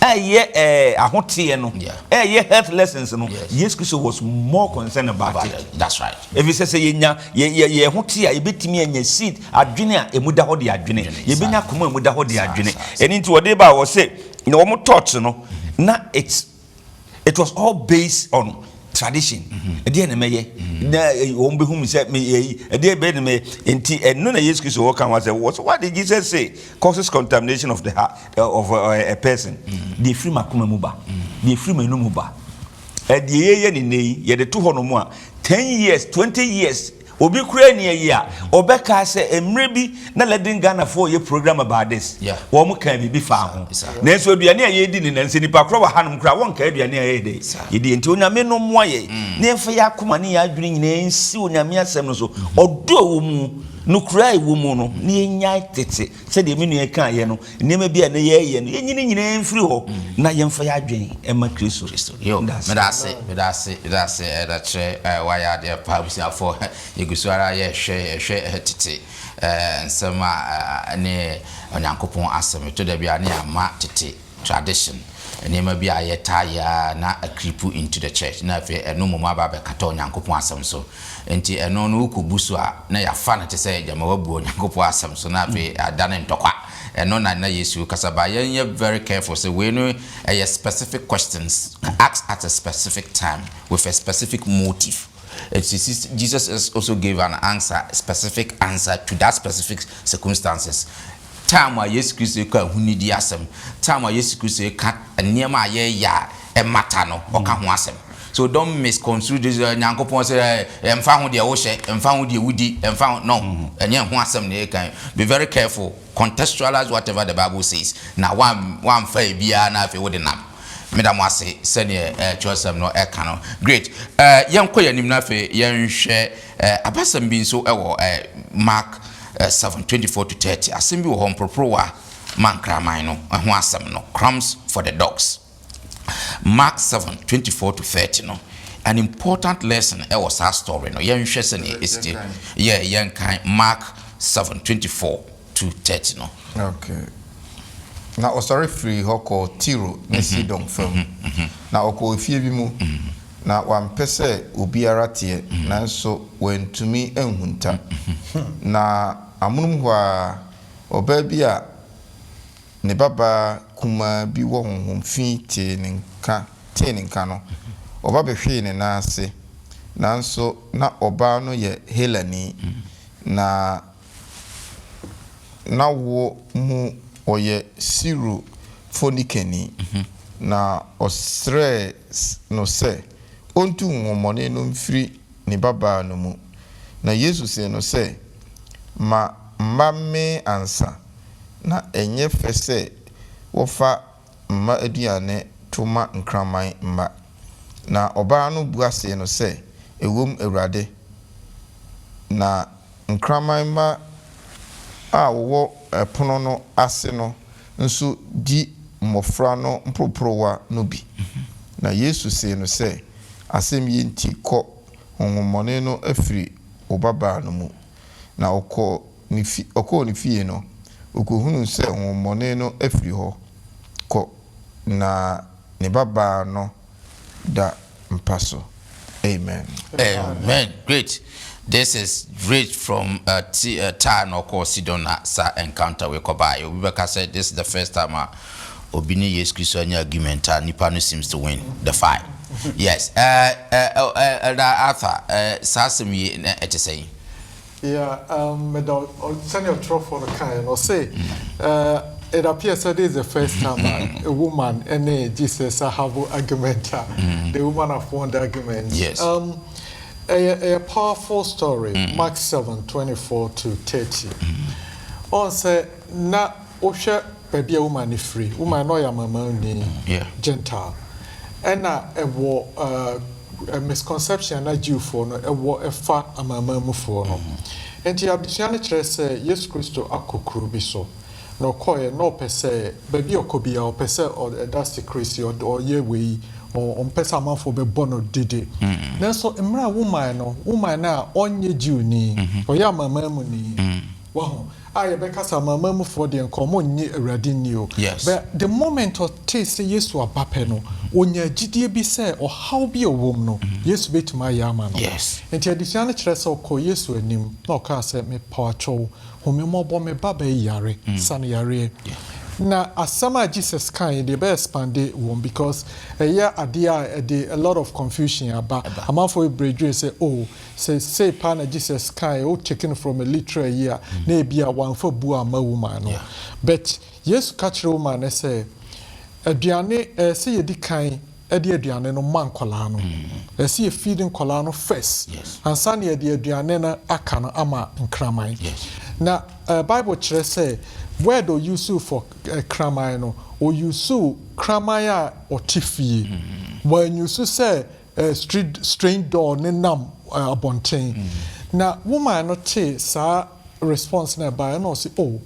Speaker 4: ɛyɛ ɛɛ eh, ahoteɛ no ɛyɛ health lessons no Yesu Kristo was more concerned about it. That's right. Efisɛ sɛ
Speaker 1: yɛnya
Speaker 4: yɛ yɛ yɛ ho te a yɛbɛtumi anya seed adwene a emu da hɔ de adwene yɛbɛnya akoma a emu da hɔ de adwene ɛne nti wɔde ba wɔ se na wɔn tɔɔkye no na it's It was all based on tradition. Ɛdeɛ na mɛyɛ na wɔn bɛhu mi sɛ meyɛ yi. Ɛdeɛ bɛyɛ na mɛyɛ. Nti ɛno na Yesu Kristo wɔka ho asɛm. What, what did Jesus say causes contamination of the heart eh, of a, eh, a person? Deɛ ɛfiri m'akoma mu ba, deɛ ɛfiri m'anum mu ba. Ɛdeɛ yɛyɛ ne nnɛ yi, yɛde to hɔ nom a, ten years, twenty years Obi koraa nni ayi a ɔbɛkaa sɛ mmerɛ bi na Leading Ghanafoɔ reyɛ program about this. Wɔn kaa biribi faa ho. Nanso aduane a yɛredi ne nnɛ, sɛ nnipa korɔ wɔ hanom koraa a, wɔnkaa aduane a yɛyɛ dɛn? Yɛdiiɛ. Nti Onyame no mmoa yɛn na yɛmfa yɛn akoma ne yɛn adwene nyinaa nsi Onyame Asɛm no so. Ɔdɔ a ɛwɔ mu, nokorɛ a ɛwɔ mu no, na yɛnyae tete. Sɛdeɛ me nua yi kaeɛ no, nneɛma bi a na yɛreyɛ no, yɛnyi ne nyinaa mfiri hɔ na yɛmfa yɛn adwene mma Kristo. Yo, Meda ase. meda
Speaker 1: ase, meda ase, meda ase, Elder Kyerɛ, eh, woayɛ adeɛ paa, abusuafoɔ, yɛgu so ara yɛrehwɛ, yɛrehwɛ eh, tete eh, nsɛm a eh, ɛne Onyankopɔn Asɛm, ɛtɔ da bi a ne yɛamma tete. tradition, nneɛma bi a yɛtaa yɛ a na a creep into the church na afei ɛno mmom aba abɛkata Onyankopɔn asɛm so. Enti ɛno no wokɔbu so a na yɛafa no te sɛ gyama woabu Onyankopɔn asɛm so na afei adane ntɔkwa. Ɛno na na Yesu rekasa ba. Yɛnyɛ very careful sɛ wei no ɛyɛ specific questions asked at a specific time with a specific motive. Jesus also gave an answer, specific answer to that specific circumstances. Time a Yesu Kristo reka ahunidi asɛm, time a Yesu Kristo reka nneɛma a yɛyɛ a ɛmmata no, ɔka ho asɛm. So don't misconstrue this uh, Nyankopɔn sɛ eh, ɛmfa ho deɛ wohyɛ, ɛmfa ho deɛ wodi, ɛmfa ho no, mm-hmm. ɛnyɛ ɛho asɛm na yɛka. Be very careful, contextualize whatever the Bible says. Na wamfa ebiara na afei wode nam. Meda mo ase sɛdeɛ eh, kyerɛsɛm no ɛka no. Great. Eh, yɛnkɔ yɛn anim na afei yɛnhwɛ eh, abasɛm bi nso ɛwɔ eh, Mark Ɛɛ seven, twenty four to thirty, Asɛm bi wɔ hɔ, mporoporowa ma nkraman no, ɛho asɛm no, Crumbs for the dogs. Mark seven, twenty four to thirty no, an important lesson ɛwɔ saa story no, yɛnhwɛ sɛdeɛ ɛsi te, yɛ yɛnkan Mark seven, twenty four to thirty no. Okay.
Speaker 2: Na ɔsɔre firii hɔ kɔɔ Tiro ne Sidon fam, na ɔkɔɔ efie bi mu. Na wampɛ sɛ obiara teɛ, nanso wantumi anhunta. Na amonom hɔ ara, ɔbaa bi a ne babaa kumaa bi wɔ honhom fi tee ne nka, tee ne nka no, ɔba bɛhwee ne nan ase. Nanso na ɔbaa no yɛ Helani, na. n'awoɔ mu ɔyɛ Siro-Fonikeni, na ɔsrɛɛ no sɛ ɔntu honhommɔne no mfiri ne babaa no mu. Na Yesu see no sɛ, Ma mma mmee ansa, na ɛnyɛ fɛ sɛ wɔfa mma aduane to ma nkraman mma. Na ɔbaa no bua see no sɛ, Ɛwom, Awurade, na nkraman mma a wɔwɔ pono no ase no nso di mmɔfra no mporoporowa no bi. Na Yesu see no sɛ, Asɛm yi nti kɔ, honhommɔne no afiri wo babaa no mu. Na ɔkɔɔ. ne fi ɔkɔɔ ne fie no, okohunuu sɛ honhommɔne no afiri hɔ kɔ, na ne babaa no da mpa so. Amen. Amen
Speaker 1: great this is great from tyre na ɔkɔɔ sidon na saa encounter wei kɔbaeɛ obi bɛka sɛ this is the first time a obi ne yesu kristo anya argument a nipa no seems to win the fight yes ɛɛ ɛɛ ɛɛ ɛda arthur ɛɛ saa asɛm yi na ɛte sɛn. Yeah,
Speaker 3: um, meda sɛnea ɔtwerɛfoɔ no kaeɛ no ɔse uh, it appears that this is the first time a, a woman ne Jesus have argument a mm. the woman have won the argument. Yes. Um, a, a powerful story, mm. Mark 7, 24 to 30. Mm. On say, na wohwɛ baabi a Woman no firi, Woman na ɔyɛ Amanamanni, Gentile, ɛna ɛwɔ uh, misconception na Jewfoɔ no ɛwɔ ɛfa Amanamanmufoɔ no. Nti abusua no kyerɛ sɛ Yesu Kristo akɔ kuro bi so, na ɔkɔɛ na ɔpɛ sɛ baabi ɔkɔ bi a ɔpɛ sɛ ɛda secrecy, ɔyɛ wei, ɔmpɛ sɛ amanfoɔ bɛbɔ no dede. Mm-hmm. Nanso mmerɛ a Woman no, Woman no a ɔnyɛ Jewni, mm-hmm. ɔyɛ Amanamanmuni, mm-hmm. wahu, A yɛbɛkasa ama amanmufoɔ deɛ nka wɔn nnye Awurade nni o, Yes. but the moment ɔtee sɛ Yesu aba pɛ no, ɔnyaa gyidie bi sɛ ɔhaw bi a ɔwɔ mu no, Yesu bɛtumi ayɛ ama no. Yes. Nti adesua no
Speaker 1: kyerɛ sɛ
Speaker 3: ɔkɔɔ Yesu anim na ɔkaa sɛ, Mepaakyɛw wo, hu me mmɔbɔ, me babaa yi yare, sa no yareɛ. Na asɛm a Jesus kaeɛ deɛ, ɛbɛ expande wɔ mu because ɛyɛ adeɛ a ɛde a lot of confusion aba. Ɛba. Amanfoɔ bebree dwene sɛ, oh, Sɛ sei paa na Jesus kae, wo take no from a literal yi a, na ebia wamfa bu amma woman no. But Yesu ka kyerɛɛ woman no sɛ, Aduane, ɛɛ sɛ yɛdi kan de aduane no ma nkɔlaa no. Ɛɛ sɛ yɛ feed nkɔlaa no first, ansa na yɛde aduane no aka no ama nkraman. Na ɛɛ Bible kyerɛ sɛ word ɔ use for ɛɛ kraman no, ɔ use kraman a ɔte fie. W'an use sɛ Street Strange Doll no nam abɔnten. Na wo man no tee saa response no a ɛbaeɛ na ɔse oh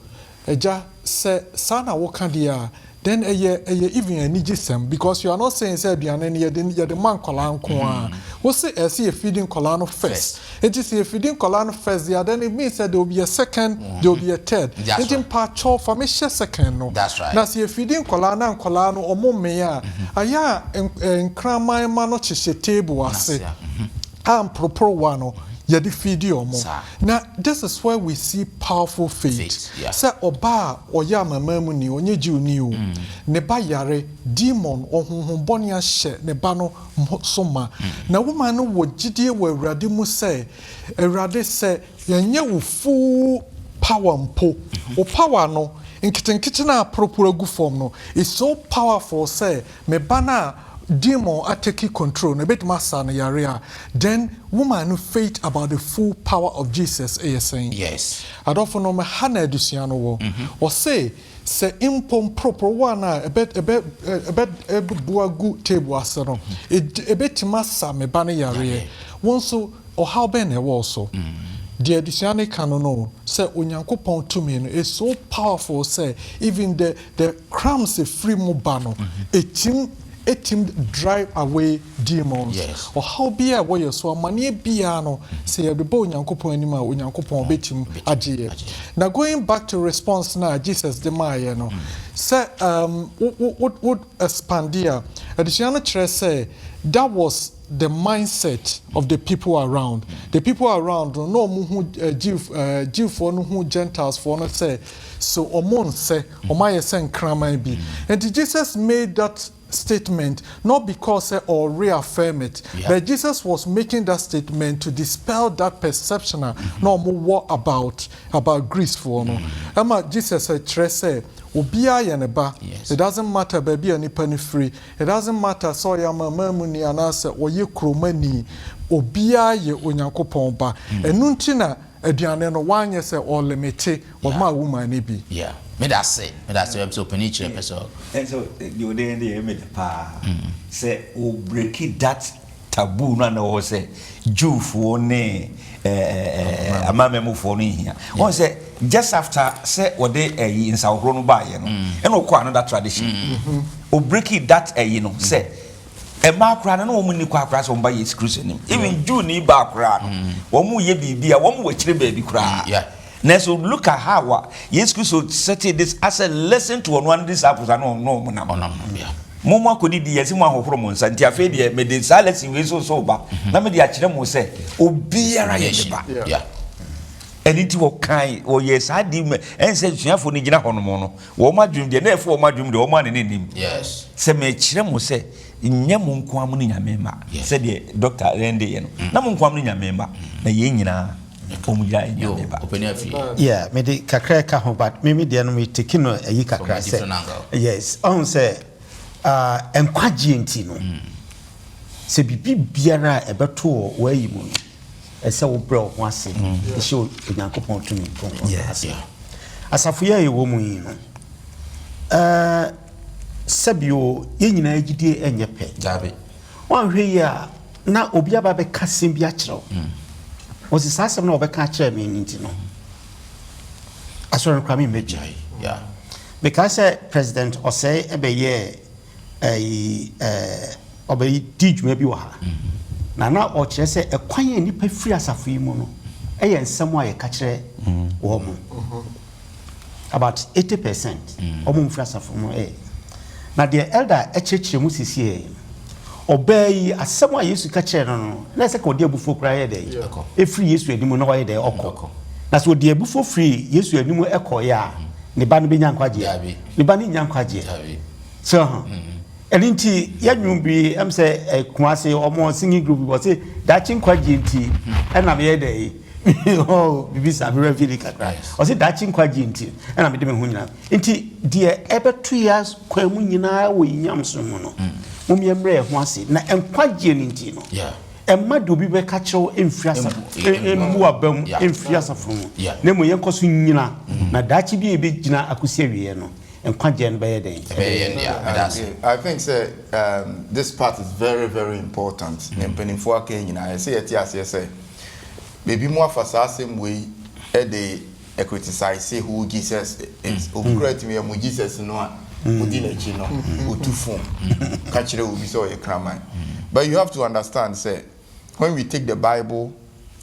Speaker 3: Agya sɛ saa na woka deɛ a then ɛyɛ ɛyɛ even anigyesɛm because you are not saying sɛ aduane no yɛde yɛde ma nkwadaa nko ara. Wose ɛsɛ yɛ feed nkwadaa no first. Nti sɛ yɛfidi nkwadaa no first deɛ then it means sɛ they will be a second, they will be a third. Nti mpakyɛw fa me hyɛ second no. Na sɛ yɛfidi
Speaker 1: nkwadaa
Speaker 3: no a nkwadaa no wɔn mmee a, ayɛ a nkraman mma no kyekyɛ table ase a mporoporowa no yɛde fidi wɔn. Na this is where we see powerful faith. Sɛ ɔbaa a ɔyɛ amamamuni, ɔnyɛ Jewni o, ne ba yare, demon, ɔhonhom bɔne ahyɛ ne ba no, mo so ma, na wo man no wɔ gyidie wɔ Awurade mu sɛ, Awurade, sɛ yɛnyɛ wo full power mpo, wo power no, nketenkete no a aporoporo agu fam no, is so powerful sɛ me ba no a demon atake control no, ɛbɛtumi asa no yareɛ a, then wo man no faith about the full power of Jesus yɛ sɛn? Yes. Adɔfonom,
Speaker 1: ɛha
Speaker 3: na adesua no wɔ. Ɔse, sɛ mpo mporoporowa no a ɛbɛ ɛbɛ ɛbɛ ɛbɛbu agu table ase no, ɛdi ɛbɛtumi asa me ba no yareɛ. Wo nso, ɔhaw bɛn na ɛwɔ wo so? Deɛ adesua no ka no no, sɛ Onyankopɔn tumi no is so powerful sɛ even the the crumbs a ɛfiri mu ba no, ɛtim ɛtim drive away Demons. Yes. Ɔhaw biara a ɛwɔ yɛn so, amaneɛ biara no, sɛ yɛbeba Onyankopɔn anim a, Onyankopɔn bɛtim agye yɛ. Agye. Na going back to response no a Jesus de maayɛ no, sɛ um, wo, wo, wo, wo expande a, adesua no kyerɛ sɛ that was the mindset of the people around. The people around no, na wɔn hu eh, Jew, eh, Jewfoɔ no hu Gentilefoɔ no sɛ, so wɔn nsɛ, wɔn ayɛ sɛ nkraman bi. Nti Jesus made that statement not because sɛ ɔɔ reaffirm it but Jesus was making that statement to dispel that perception a na ɔmo wɔ about about Greece foɔ no ɛma Jesus kyerɛ sɛ obiaa yɛ ne ba it doesn't matter baabi a nipa no firi it doesn't matter sɛ ɔyɛ amamamuni anaasɛ ɔyɛ kuromani obiaa yɛ Onyankopɔn ba ɛno nti na Aduane no wanyɛ sɛ ɔlimite ɔmaa wo maa no bi. Yeah medase
Speaker 1: medase ɛbɛpɛ sɛ ɔpɛni kyerɛ ɛpɛ sɛ. Ɛnsɛ deɛ
Speaker 4: ɔde yɛn deɛ yɛ meda paa sɛ wo breaki that taboo no a na ɛwɔ hɔ sɛ Jew foɔ ne ɛɛ amamɛmu foɔ no nhia wɔn sɛ just after sɛ wɔde ɛyi nsahohoro no baayɛ no ɛna ɔkɔ another tradition o breaki that ɛyi no sɛ. Mmaa koraa no na wɔn nni kwan koraa sɛ wɔn ba Yesu Kristo nim. Even Jewni baa koraa no, mm. wɔn yɛ biribi a wɔn wɔ akyire baabi koraa. Mm, Nanso look at how a Yesu Kristo setting this as a lesson to ɔno ano disciples ano ɔno wɔn nam. Ɔnam yeah. Mo mo akɔdi di yɛsi mo ahohoro mo nsa nti afei deɛ mɛ de saa lesson wei so so ba mm-hmm. na mɛ de akyerɛ mo sɛ obiara yɛ ne ba. Yeah. Yeah ɛne nti wɔkan wɔyɛ saa di mɛ ɛnsɛ suafo no gyina hɔ nom no Wɔn adwenem deɛ, na ɛfo wɔn adwenem deɛ, wɔn anene nnim. Yes. Sɛ mekyerɛ mo sɛ, nyɛ mo nko ara mo ne Nyame mma, Yes. sɛdeɛ Dɔkta Rende yɛ no, na mo nko ara mo ne Nyame mma, na yɛn nyinaa, wɔn nyinaa yɛ Yo, Nyame mma. ɔpɛni afie.
Speaker 5: Amen. Yeah, me de kakra ɛka ho but me me deɛ no me take no ayi From kakra a sɛ different angle. yes ɔn sɛ ah, nkwagyeɛ nti no sɛ biribi biara a ɛbɛto wɔ w'ayi mu no ɛsɛ wobrɛ wo ho ase hyɛ Onyankopɔn tumi kronkron no ase. Asafo yi a yɛwɔ mu yi no, sɛbio yɛn nyinaa gyidie nyɛ pɛ. Wɔanhwɛ
Speaker 1: yi a
Speaker 5: na obi aba bɛka asɛm bi akyerɛ wo. Mm. Wɔsi saa asɛm na wɔbɛka akyerɛ me nti no. Asɔre no kora me mmɛgyae. Mekaa sɛ President Ɔsɛe ɛbɛyɛɛ Ɛyi ɛɛ ɔbɛyi di dwuma bi wɔ ha, na na ɔkyerɛ sɛ ɛkwan a nnipa firi asafo yi mu no yɛ nsɛm a yɛka kyerɛ wɔn. About eighty percent wɔn mfiri asafo mu ɛ. Na deɛ elder kyerɛkyerɛ mu sisi ɛ, ɔbaa yi asɛm a Yesu ka kyerɛ no no, na ɛsɛ ka ɔde abufuo koraa yɛ dɛ, efiri Yesu anim na ɔyɛ dɛ ɔkɔ. Na sɛ ɔde abufuo firi Yesu anim ɛkɔeɛ a, ne ba no bɛnya nkwagyeɛ? Ne ba no nnya nkwagyeɛ. so ho ɛno nti yɛnwom bi ɛm sɛ ɛkuma ase ɔmo singing group bi wɔse daakye nkwagye nti ɛna meyɛ dɛ yi bibi sa mewura fie ni kakra ɔse daakye nkwagye nti ɛna mede me ho nyinaa nti deɛ ɛbɛto yɛ kwan mu nyinaa wɔ yinyam so mu no mom yɛ mmerɛ ɛho ase na nkwagye no nti no ɛma deɛ obi bɛka kyerɛw mfiri asafo mmu aba mu mfiri asafo mu na mmom yɛnkɔ so nyina na daakye bi a ɛbɛgyina akɔsi awieɛ no nkwagyeɛ no bɛyɛ dɛn? Ɛbɛyɛ yɛn dea. Meda
Speaker 2: ase. I think sɛ um, this part is very very important. Nea mpanimfoɔ aka yi nyinaa, ɛsɛ yɛte aseɛ sɛ baabi mu afa saa asɛm wei de ɛkritisise who Jesus is. Obi koraa atumi amu Jesus no a wodi n'akyi no, otu fo ka kyerɛ obi sɛ ɔyɛ kraman. But you have to understand sɛ when we take the Bible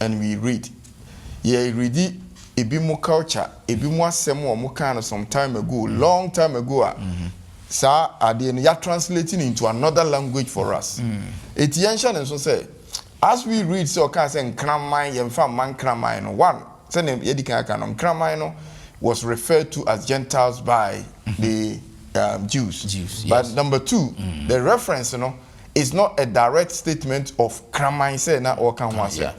Speaker 2: and we read, yɛ redi ebi mo culture ebi mo asɛm a ɔmo kaa no some time ago long time ago a saa adeɛ no ya translate no into another language for us eti yɛn hyɛ ne nso sɛ as we read sɛ ɔkaa sɛ nkraman yɛn fa mma nkraman no one sɛ ne yɛdi kan aka no nkraman no was referred to as gentiles by the um, Jews. Jews, yes. But number two, mm. the reference, you know, is not a direct statement of kraman sɛ na ɔreka ho asɛm.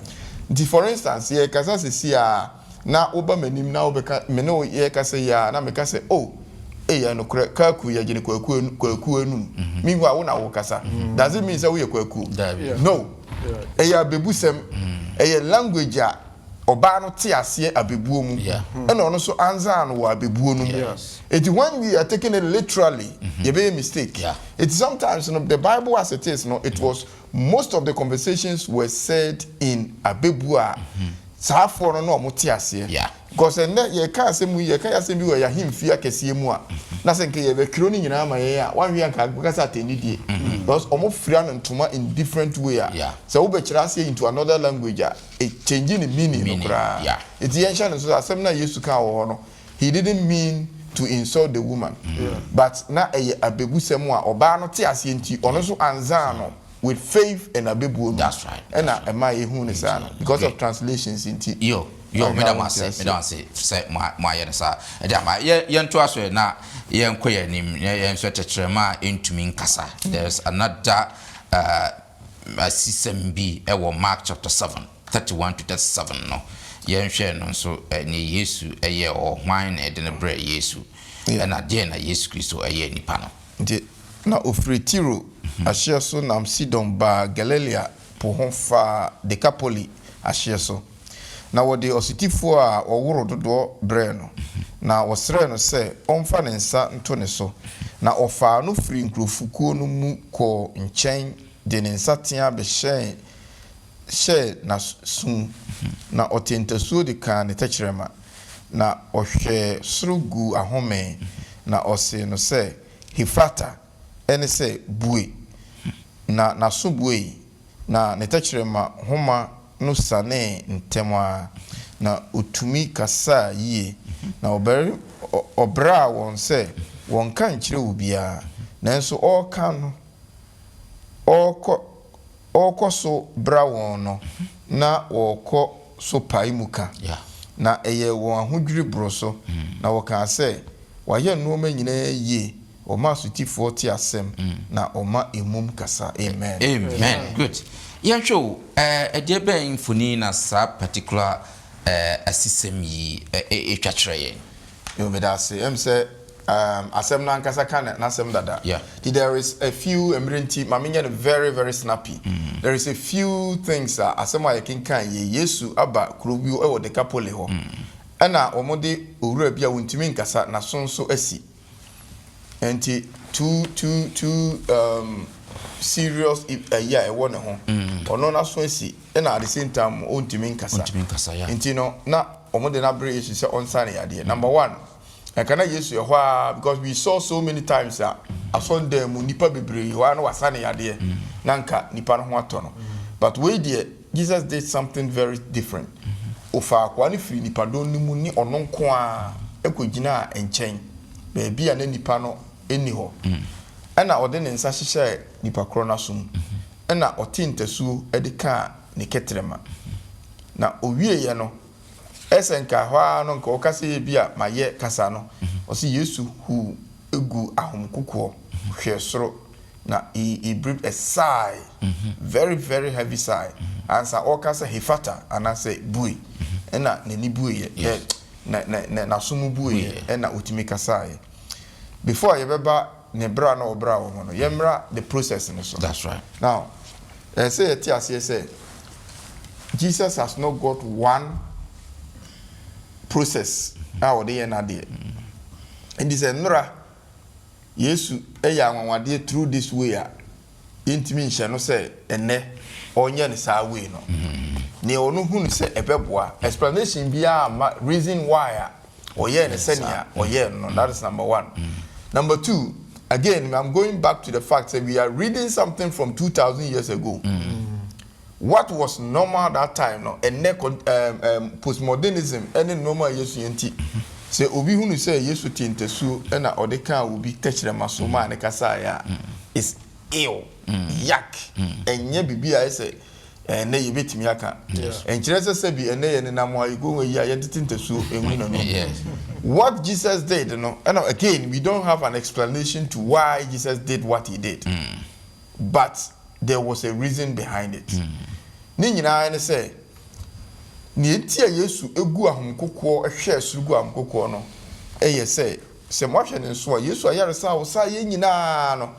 Speaker 2: Nti for instance, yɛrekasa sɛsi ara na woba m'anim na wobɛka, me ne wo yɛrekasa yi ara na meka sɛ, oh, ɛyɛ nokorɛ, Kaku, yɛgye no Kwaku Anu, Kwaku Anum. Meanwhile wo na worekasa. Does it mean sɛ woyɛ Kwaku? Daabi. No. Ɛyɛ abɛbusɛm. Ɛyɛ language a. ɔbaa no tse aseɛ abɛbuo mu ɛna ɔno nso anzaa no wɔ abɛbuo no mu eti when we are taking it literally yɛbɛyɛ mistake eti sometimes no the bible as it is no it was most of the conversations were said in abɛbuo a saafoɔ no na ɔmo te aseɛ because ɛnnɛ yɛka asɛm yi yɛka yasɛm bi wɔ yahemfie akɛseɛ mu a na sɛ nka yɛbɛtwerɛ no nyinaa ama yɛn a wanhwɛ a nka bɛka sɛ atɛnidie because ɔmo fira no ntoma in different way a sɛ wobɛkyerɛ aseɛ into another language a e change ne meaning no koraa. Enti yɛnhyɛ no nso sɛ asɛm no a Yesu kaa wɔ hɔ no, he didn't mean to insult the woman, but na ɛyɛ abebusɛm a ɔbaa no te aseɛ nti, ɔno nso anzaa no with faith and abebuo no ɛna
Speaker 1: ɛmaa yɛhuu
Speaker 2: no saa no, because of translations nti. Yo, yo, meda mo
Speaker 1: ase, meda mo ase sɛ moayɛ no saa. Ɛdeɛ ama yɛntoa so na yɛnkɔ yɛn anim na yɛnhwɛ tɛkyerɛma a ɛntumi nkasa. There's another uh, asisɛm bi wɔ Mark chapter seven, thirty one to thirty seven no, yɛnhwɛ no nso nea Yesu yɛɛ hɔ, hwan na ɛde no brɛɛ Yesu, ɛna deɛn na Yesu Kristo yɛɛ nipa no. Nti na ɔfiri
Speaker 2: Tiro ahyeɛ so nam Sidon baa Galilea po ho faa Dekapoli ahyeɛ so. Na wɔde ɔsotifoɔ a wɔworo dodoɔ brɛɛ no, na wɔsrɛɛ no sɛ ɔmfa ne nsa nto ne so, na ɔfaa no firii nkurɔfokuo no mu kɔɔ nkyɛn de ne nsateaa bɛhyɛɛ hyɛɛ n'aso mu, na ɔtee ntasuo de kaa ne tɛkyerɛma, na ɔhwɛɛ soro guu ahome, na ɔsee no sɛ, Hefata! ne sɛ bue, na n'aso buei, na ne tɛkyerɛma nhoma no sianee ntɛm ara, na otumi kasaa yiye. Na ɔbraa wɔn sɛ wɔnka nkyerɛ obiara, nanso ɔreka no, ɔrekɔ so bra wɔn no, na wɔkɔ so pae mu ka, na ɛyɛɛ wɔn ahodwiriw boro so, na wɔkaa sɛ, Wayɛ nneɛma nyinaa yiye. Ɔma asotifoɔ te asɛm, na ɔma emum kasa. Amen. Amen. Good.
Speaker 1: Yɛnhwɛ o, ɛdeɛbɛn mfonin na saa particular asisɛm yi twa kyerɛ yɛn? Yoo, meda
Speaker 2: ase. Ɛm sɛ asɛm no ankasa ka n'asɛm dada. Nti there is a few, mmerɛ nti ma menyɛ no very very snappy, there is a few things a asɛm a yɛkenkan yei, Yesu aba kuro bi wɔ Dekapole hɔ, ɛna wɔde owura bi a wɔntumi nkasa, n'aso nso asi. Nti too too too um, serious ɛyi a ɛwɔ ne ho. Mm. Ɔno n'aso asi ɛna at the same time ɔntumi nkasa. Ɔntumi nkasa ya. Nti no na wɔn de n'abrɛ Yesu sɛ ɔnsa ne yadeɛ. Mm. Number one, ɛka na Yesu ɛhɔ a because we saw so many times a mm. asɔndan mu nipa bebree hɔ a na wasa ne yadeɛ mm. na nka nipa no ho atɔ no. Mm. But wei deɛ Jesus did something very different. Ɔfaa akoa no firii nnipadɔm no mu ne ɔno nko ara kɔgyinaa nkyɛn, baabi a na nnipa no nni hɔ. Ɛnna ɔde ne nsa hyehyɛɛ nnipa korɔ no aso mu. Ɛnna ɔtee ntasuo de kaa ne kɛtrɛma. Na ɔwieeɛ no, ɛsɛ sɛ anka ɛhɔ ara no anka ɔka sɛ, Ebia mayɛ kasa no. Ɔse, Yesu huu. gu ahom kokoɔ hwɛɛ soro na he he breathed a sigh very very heavy sigh ansa ɔreka sɛ Hefata anaasɛ bue ɛna n'ani bueɛ dɛ nɛ nɛ nɛ n'aso mu bueɛ ɛna ɔtumi kasaeɛ before a yɛbɛba ne bra na ɔbra wɔ ho no yɛmmra the process no so now ɛɛ sɛ yɛte aseɛ sɛ Jesus has not got one process a ɔde yɛ n'adeɛ. Enti sɛ nnora Yesu yɛ anwanwadeɛ through this way a, yɛntumi nhyɛ no sɛ ɛnnɛ ɔnyɛ no saa way no. Nea ɔno hunu sɛ ɛbɛboa, explanation biara amma reason why a ɔyɛɛ no sɛnea ɔyɛɛ no no. That is number one. Number two, again, I'm going back to the fact sɛ we are reading something from two thousand years ago. What was normal that time no, ɛnnɛ kɔ ɛɛm ɛɛm postmodernism ne nnoɔma a yɛsua nti, sɛ obi hunu sɛ Yesu tee ntasuo na ɔde kaa obi tɛkyerɛma so maa no kasaeɛ a, it's ew, yuck, ɛnyɛ biribi a ayɛ sɛ ɛnnɛ yɛbɛtumi aka. Ɛnkyerɛ sɛ sɛbi ɛnnɛ yɛnenam a yɛkɔ nwura yi a yɛntete ntasuo ngu n'anom. What Jesus did no, ɛna again we don't have an explanation to why Jesus did what he did. But there was a reason behind it. Ne nyinaa ne sɛ, nea enti a Yesu guu ahom kokoɔ hwɛɛ soro guu ahom kokoɔ no yɛ sɛ, sɛ moahwɛ ne nso a, Yesu ayaresa a ɔsaeɛ nyinaa no,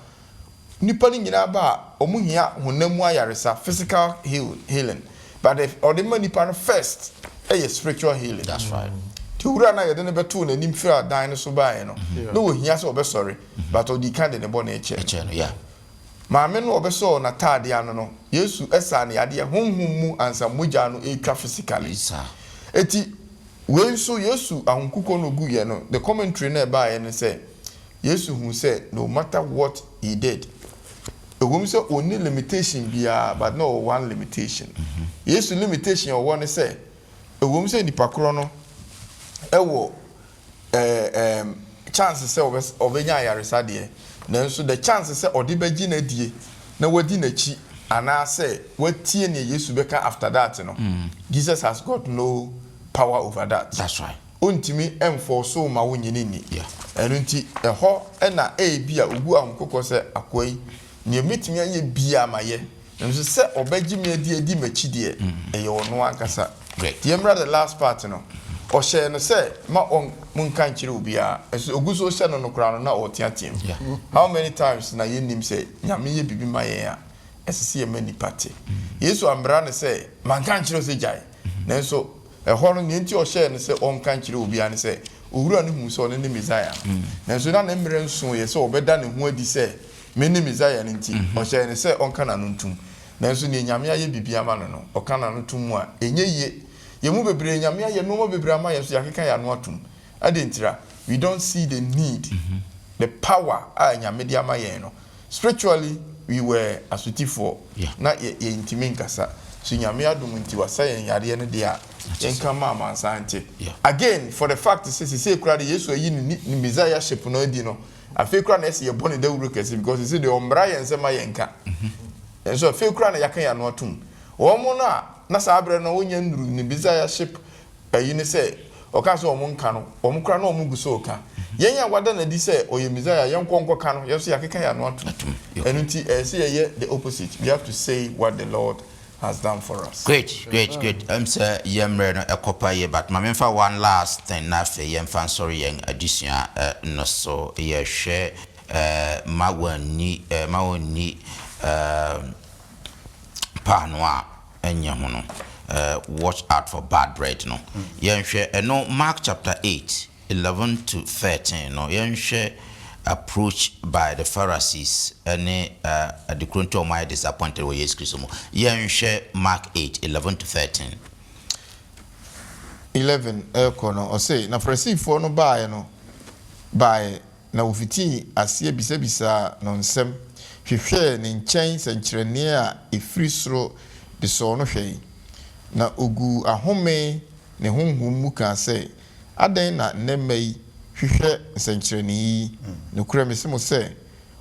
Speaker 2: nnipa no nyinaa ba a, wɔhia honam mu ayaresa, physical healing, but the ɔde ma nnipa no first yɛ spiritual healing. Nti
Speaker 1: Owura no a yɛde
Speaker 2: no bɛtoo n'anim firaa dan no so baeɛ no, na ɔhia sɛ ɔbɛsɔre. but ɔdii kan de ne bɔne kyɛɛ no.
Speaker 1: Maame no a
Speaker 2: ɔbɛsɔɔ n'atade ano no, Yesu saa no yadeɛ honhom mu ansa mogya no retwa physically. Enti wei nso Yesu ahokukuo na ɔguiɛ no, the commentary no a ɛbaeɛ ne sɛ, Yesu huu sɛ no matter what he did, ɛwɔ mu sɛ ɔnni limitation biara but na ɔwɔ one limitation. Yesu limitation a ɔwɔ ne sɛ, ɛwɔ mu sɛ nipa korɔ no wɔ ɛɛm chance sɛ ɔbɛ ɔbɛnya ayaresa deɛ, nanso the chance sɛ ɔde bɛgye n'adie na wadi n'akyi anaa sɛ watie nea Yesu bɛka after that no, Jesus has got no power over that. That's right. Ɔntumi
Speaker 1: nfɔɔso
Speaker 2: wo ma wonyini nni. Yeah. Ɛno nti
Speaker 1: ɛhɔ
Speaker 2: na ɛɛbi a ɔbu ahokokɔ sɛ akoa yi, Nea obetumi ayɛ biara mayɛ, nanso sɛ ɔbɛgye me adi adi m'akyi deɛ, ɛyɛ ɔno ankasa. Yɛmmra the
Speaker 1: last part
Speaker 2: no, ɔhyɛɛ no sɛ mma ɔnnka nkyerɛ obiara, nanso ogu so rehyɛ no no koraa no, na ɔreteateam. How many times na yɛnnim sɛ Nyame yɛ biribi ma yɛn a, ɛsɛ sɛ yɛma nnipa te? Yesu ammra no sɛ, Manka ankyerɛ wo sɛ gyae? Nanso ɛhɔ no, nea enti a ɔhyɛɛ no sɛ ɔnnka nkyerɛ obiara ne sɛ, Owura no huu sɛ ɔno ne Mesaia no, nanso na ne mmerɛ nsooɛ sɛ ɔbɛda ne ho adi sɛ Mene Mesaia no nti, ɔhyɛɛ no sɛ ɔnka n'ano ntom. Nanso nea Nyame ayɛ biribi ama no no, ɔka n'ano tom mu a, ɛnyɛ yie. Yɛn mu bebree, Nyame ayɛ nnoɔma bebree ama yɛn so yɛakeka yɛn ano atom. Adɛn ntira? We don't see the need, the power a Nyame de ama yɛn no. Spiritually, we were asotifoɔ, na yɛ, yɛntumi nkasa. So Nyame adom nti wasa yɛn yareɛ no deɛ a, yɛnka mma amansan nte. Again, for the fact sɛ seesei koraa deɛ Yesu ayi ne, ne Messiahship no adi no, Afei koraa na ɛsɛ yɛbɔ no dawuro kɛse because sisi deɛ ɔmmra yɛn nsɛm ma yɛnka. Nanso afei koraa na yɛaka yɛn ano atom. Wɔn no a na saa berɛ no wɔnnya nnuru ne bizayaship ayi no sɛ ɔkaa sɛ wɔn nka no, wɔn koraa na wɔn gu so reka. Yɛn a wɔada no adi sɛ ɔyɛ Messiah, yɛnkɔ nkɔka no, yɛn nso yɛakeka yɛn ano atom. Ɛno nti ɛsɛ sɛ yɛyɛ the opposite, we have to say what the Lord has done for us. Great, great, great. Ɛm sɛ
Speaker 1: yɛn mmerɛ no ɛkɔ pa yie but ma memfa one last thing na afei yɛmfa nsɔre yɛn adesua no so. Yɛhwɛ ma wɔnni ma wɔnni paano a ɛnyɛ ho no watch out for bad bread no. Yɛnhwɛ ɛno Mark chapter eight. Eleven to thirteen no, yɛnhwɛ approach by the Pharisees ne ade koro nti a wɔayɛ disappointed wɔ Yesu Kristo mu. Yɛnhwɛ Mark eight, eleven to thirteen.
Speaker 2: Eleven rekɔ no, ɔse, Na Farisifoɔ no baaɛ no baaɛ, na wɔfitii aseɛ bisabisaa no nsɛm, hwehwɛɛ ne nkyɛn sɛnkyerɛnneɛ a ɛfiri soro de sɔɔ no hwɛe. Na ɔguu ahome ne honhom mu kaa sɛ, Adɛn na nnɛ mma yi hwehwɛ nsɛnkyerɛnne yi? Nokorɛ mese mo sɛ,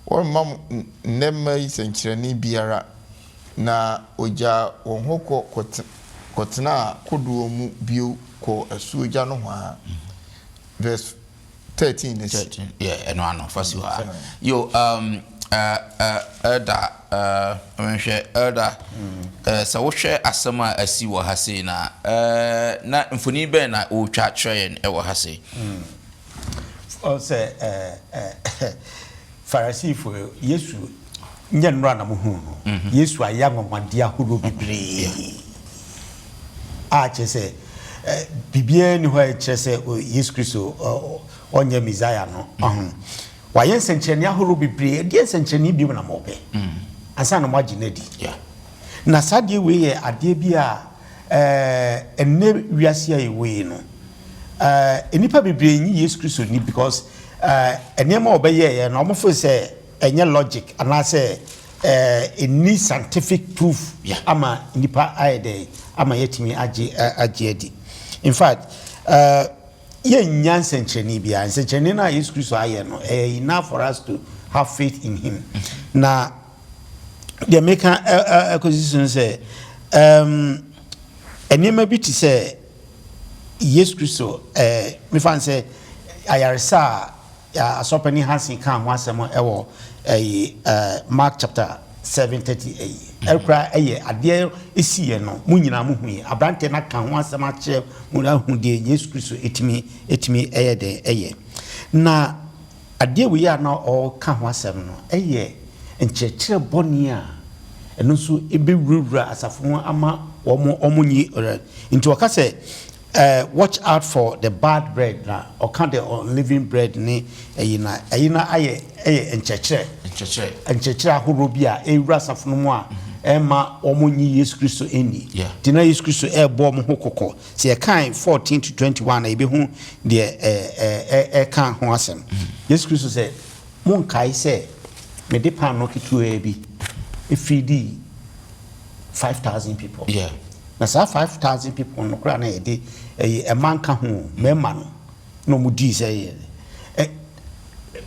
Speaker 2: wɔremma mo nnɛ mma yi sɛnkyerɛnne biara. Na wɔgyaa wɔn hɔ kɔ kɔtenaa kodoɔ mu bio kɔɔ asuogya nohoa. Vs.
Speaker 1: 13
Speaker 2: no
Speaker 1: akyi. Yɛ ɛno ano, fa si hɔ ara.
Speaker 2: Yo,
Speaker 1: um, uh, uh, Elder Eh, nhwɛ, Elder, eh, sɛ wohwɛ asɛm a asi wɔ ha sei no a, eh, na mfoni bɛn na woretwa akyerɛ yɛn wɔ ha sei? Ɔn sɛ,
Speaker 5: eh, eh, Farisifo, Yesu, nyɛ nnora na mohuu no. Mhm. Yesu ayɛ anwanwadeɛ ahoroɔ bebree a kyerɛ sɛ, eh, biribiara nni hɔ a ɛkyerɛ sɛ, oh, Yesu Kristo, oh, ɔnyɛ Messiah no. Ɔho. Mhm. Wayɛ nsɛnkyerɛnne ahorow bebree. Ɛdeɛ nsɛnkyerɛnne bio na mopɛ ansa na moagye no adi? Na saa adeɛ wei yɛ adeɛ bi a ɛnnɛ wiase a yɛwɔ yi no, nnipa bebree nnye Yesu Kristo nni because nneɛma a ɔbɛyɛeɛ no, wɔfo sɛ ɛnyɛ logic anaasɛ ɛnni scientific proof ama nnipa ayɛ dɛn ama yɛatumi agye adi. In fact, Yɛnnya nsɛnkyerɛnne biara. Nsɛnkyerɛnne no a Yesu Kristo ayɛ no, ɛyɛ enough for us to have faith in him. Na deɛ meka akɔsi so no sɛ, um, nneɛma bi te sɛ Yesu Kristo, eh, mefa no sɛ ayaresa a Asɔpanin Hansen kaa ho asɛm wɔ ɛyi Mark chapter seven thirty ɛyi ɛkura ɛyɛ adeɛ esi yɛ no mo nyinaa mo hu yi aberanteɛ na ka ho asɛm akyerɛ mo ahu deɛ Yesu Kristo etimi etimi ɛyɛ deɛ ɛyɛ na adeɛ wei a na ɔka ho asɛm no ɛyɛ nkyerɛkyerɛ bɔne a ɛno nso ebewurawura asafo mu ama wɔn wɔn nyi ɔrɛ nti ɔka sɛ Eh watch out for the bad bread na ɔka the unleavened bread ne ɛyi na ɛyi na ayɛ ɛyɛ nkyɛkyerɛ nkyɛkyerɛ nkyɛkyerɛ ahoroɔ bi a ɛrewura asafo no mu a ɛmma wɔn nyi Yesu Kristo nni nti na Yesu Kristo ɛrebɔ wɔn ho kɔkɔ sɛ yɛkan fourteen to twenty one na yɛbɛhu deɛ ɛɛ ɛɛ ɛka ho asɛm Yesu Kristo sɛ mo nkae sɛ mede paanoo ketewaa bi efidii. five thousand people yeah na saa five thousand people no kora na yɛde ɛyɛ eh, ɛma nka ho mmarima no na wɔn dii sɛ yɛ ɛ eh,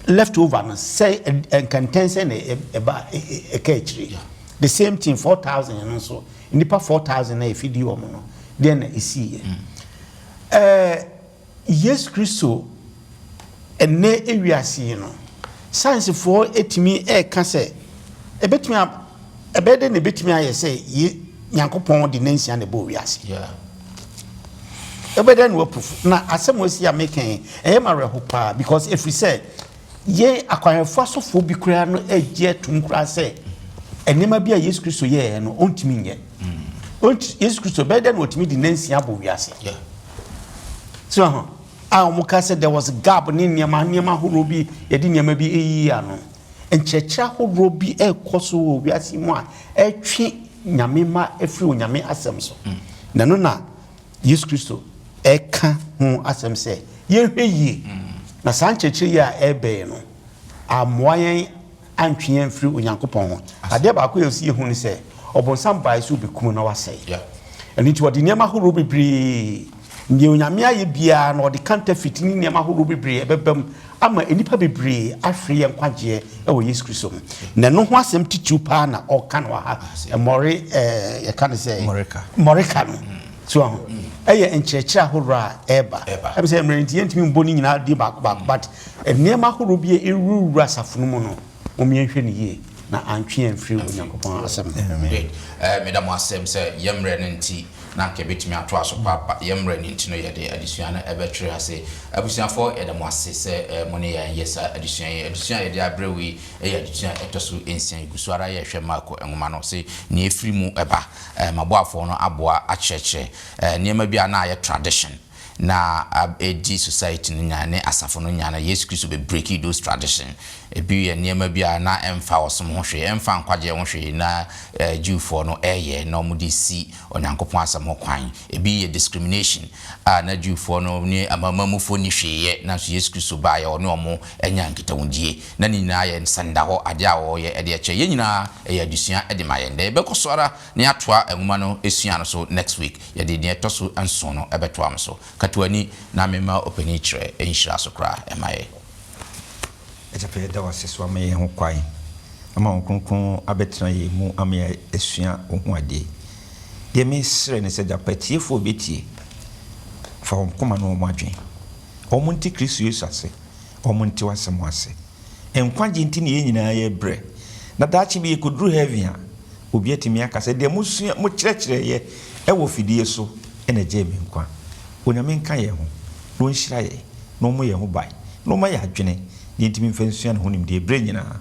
Speaker 5: left over no sɛ eh, nkɛntɛn sɛ na ɛba ɛka akyire the same thing four thousand no nso nipa four thousand na efidi wɔn no deɛ na esi yɛ ɛɛ. Mm. Yesu Kristo nnɛ wiase yi no, sayansifoɔ tumi reka sɛ ɛbɛtumi a, ɛbɛyɛ dɛ na ɛbɛtumi ayɛ sɛ ye, Nyankopɔn de nansia na ɛbɔɔ wiase. Yeah. Ɛbɛyɛ dɛ na wapufu. Na asɛm wɔasi a meka yi, ɛyɛ ma awerɛho paa because ɛfiri sɛ Yɛn akwanhwɛfo asɔfoɔ bi koraa no gye atum koraa sɛ nneɛma bi a Yesu Kristo yɛɛ no ɔntumi nyɛ. Ɔnti Yesu Kristo bɛyɛ dɛ na ɔtumi di nansia abɔ wiase. So ho a wɔn ka sɛ there was gap ne nneɛma nneɛma ahorow bi yɛde nneɛma bi eyi ano. Nkyerɛkyerɛ ahorow bi ɛrekɔ so wɔ wiase mu a ɛtwe nyame ma efiri onyame asɛm so. Mm. Na no na Yesu Kristo reka ho asɛm sɛ yɛnhwɛ yie na saa nkyerɛkyerɛ yi a ɛrebɛn yɛn no ammoa yɛn antwe yɛn mfiri Onyankopɔn ho. Adeɛ baako yɛ si yɛhu ne sɛ ɔbonsam baeɛ sɛ ɔbɛkum na wasɛe. Ɛno nti ɔde nneɛma horow bebree, deɛ Onyame ayɛ biara na ɔde kanta fiti ne nneɛma horow bebree ɛbɛbam ama nnipa bebree ahwere yɛn nkwagyeɛ wɔ Yesu Kristo mu. Na ɛno ho asɛm titiriw paa na ɔka no wɔ ha. Mmɔre, ɛɛ, yɛka no sɛ. Mmɔreka. Mmɔreka no. Mm. So aho. Mm. Ɛyɛ nkyerɛkyerɛ ahorow a ɛreba. Ɛba. Ɛbi sɛ mmerɛ nti yɛntumi mbɔ ne nyinaa din baako baako, but nneɛma ahorow bi a ɛrewurawura asafo no mu no, wɔn yɛnhwɛ no yie na antwe yɛn mfiri Onyankopɔn asɛm no. Amen. Good. Ɛɛ, meda
Speaker 1: mo asɛm sɛ yɛn mmerɛ no nti, Na anka yɛbɛtumi atoa so paapa. Yɛn mmerɛ no nti no yɛde adesua no bɛtwere ase. Abusuafoɔ yɛda mo ase sɛ mo ne yɛn yɛ saa adesua yi. Adesua a yɛde abrɛ wo yi yɛ adesua a ɛtɔ so nsia. Yɛgu so ara yɛrehwɛ Marko nwoma no se nea ɛfiri mu ba. M'aboafoɔ no aboa akyerɛkyerɛ nneɛma bi a na ayɛ tradition. na edi society no nya ne asafo no nya no, Yesu Kristo be breaki those tradition. Ebi yɛ nneɛma bi a na ɛmfa ɔsom ho hwee, ɛmfa nkwagyeɛ ho hwee na Jewfoɔ no ɛɛyɛ na wɔn de si Onyankopɔn asɛm ho kwan. Ebi yɛ discrimination a na Jewfoɔ no ne Amanamanmufoɔ nni hwee yɛ, nanso Yesu Kristo baeɛ ɔne wɔn nyaa nkitahudie. Na ne nyinaa yɛ nsɛndahɔ adeɛ a wɔyɛ de ɛkyɛ. Yɛn nyinaa ɛyɛ adesua de ma yɛn. Dɛ yɛbɛkɔ so ara na yɛatoa nwoma no sua no so next week. Yɛde nea ɛtɔ so nson no bɛtoa mo so. Ka to ani na memma ɔpanin kyerɛ nhyira so koraa mma yɛn.
Speaker 4: Agyepa yɛda wo ase sɛ woama yɛn ho kwan ama Honhom Kronkron abɛtena yɛn mu ama yɛasua wo ho adeɛ. Deɛ mesrɛ ne sɛ agyepa atiefoɔ bɛtie, fa wɔn koma ne wɔn adwene. Wɔn nte Kristo Yesu ase. wɔnte w'asɛm ase. Nkwagye nti na yɛn nyinaa yɛrebrɛ, na daakye bi yɛkɔduru heaven a, obi atumi aka sɛ, Deɛ mosua, mokyerɛkyerɛeɛ wɔ fidie so na ɛgyee me nkwa. Onyame nka yɛn ho, na ɔnhyira yɛn, na ɔmmɔ yɛn ho ban, na ɔmma yɛn adwene deɛ nti memfa nsua ne ho nimdeɛ berɛ nyinaa.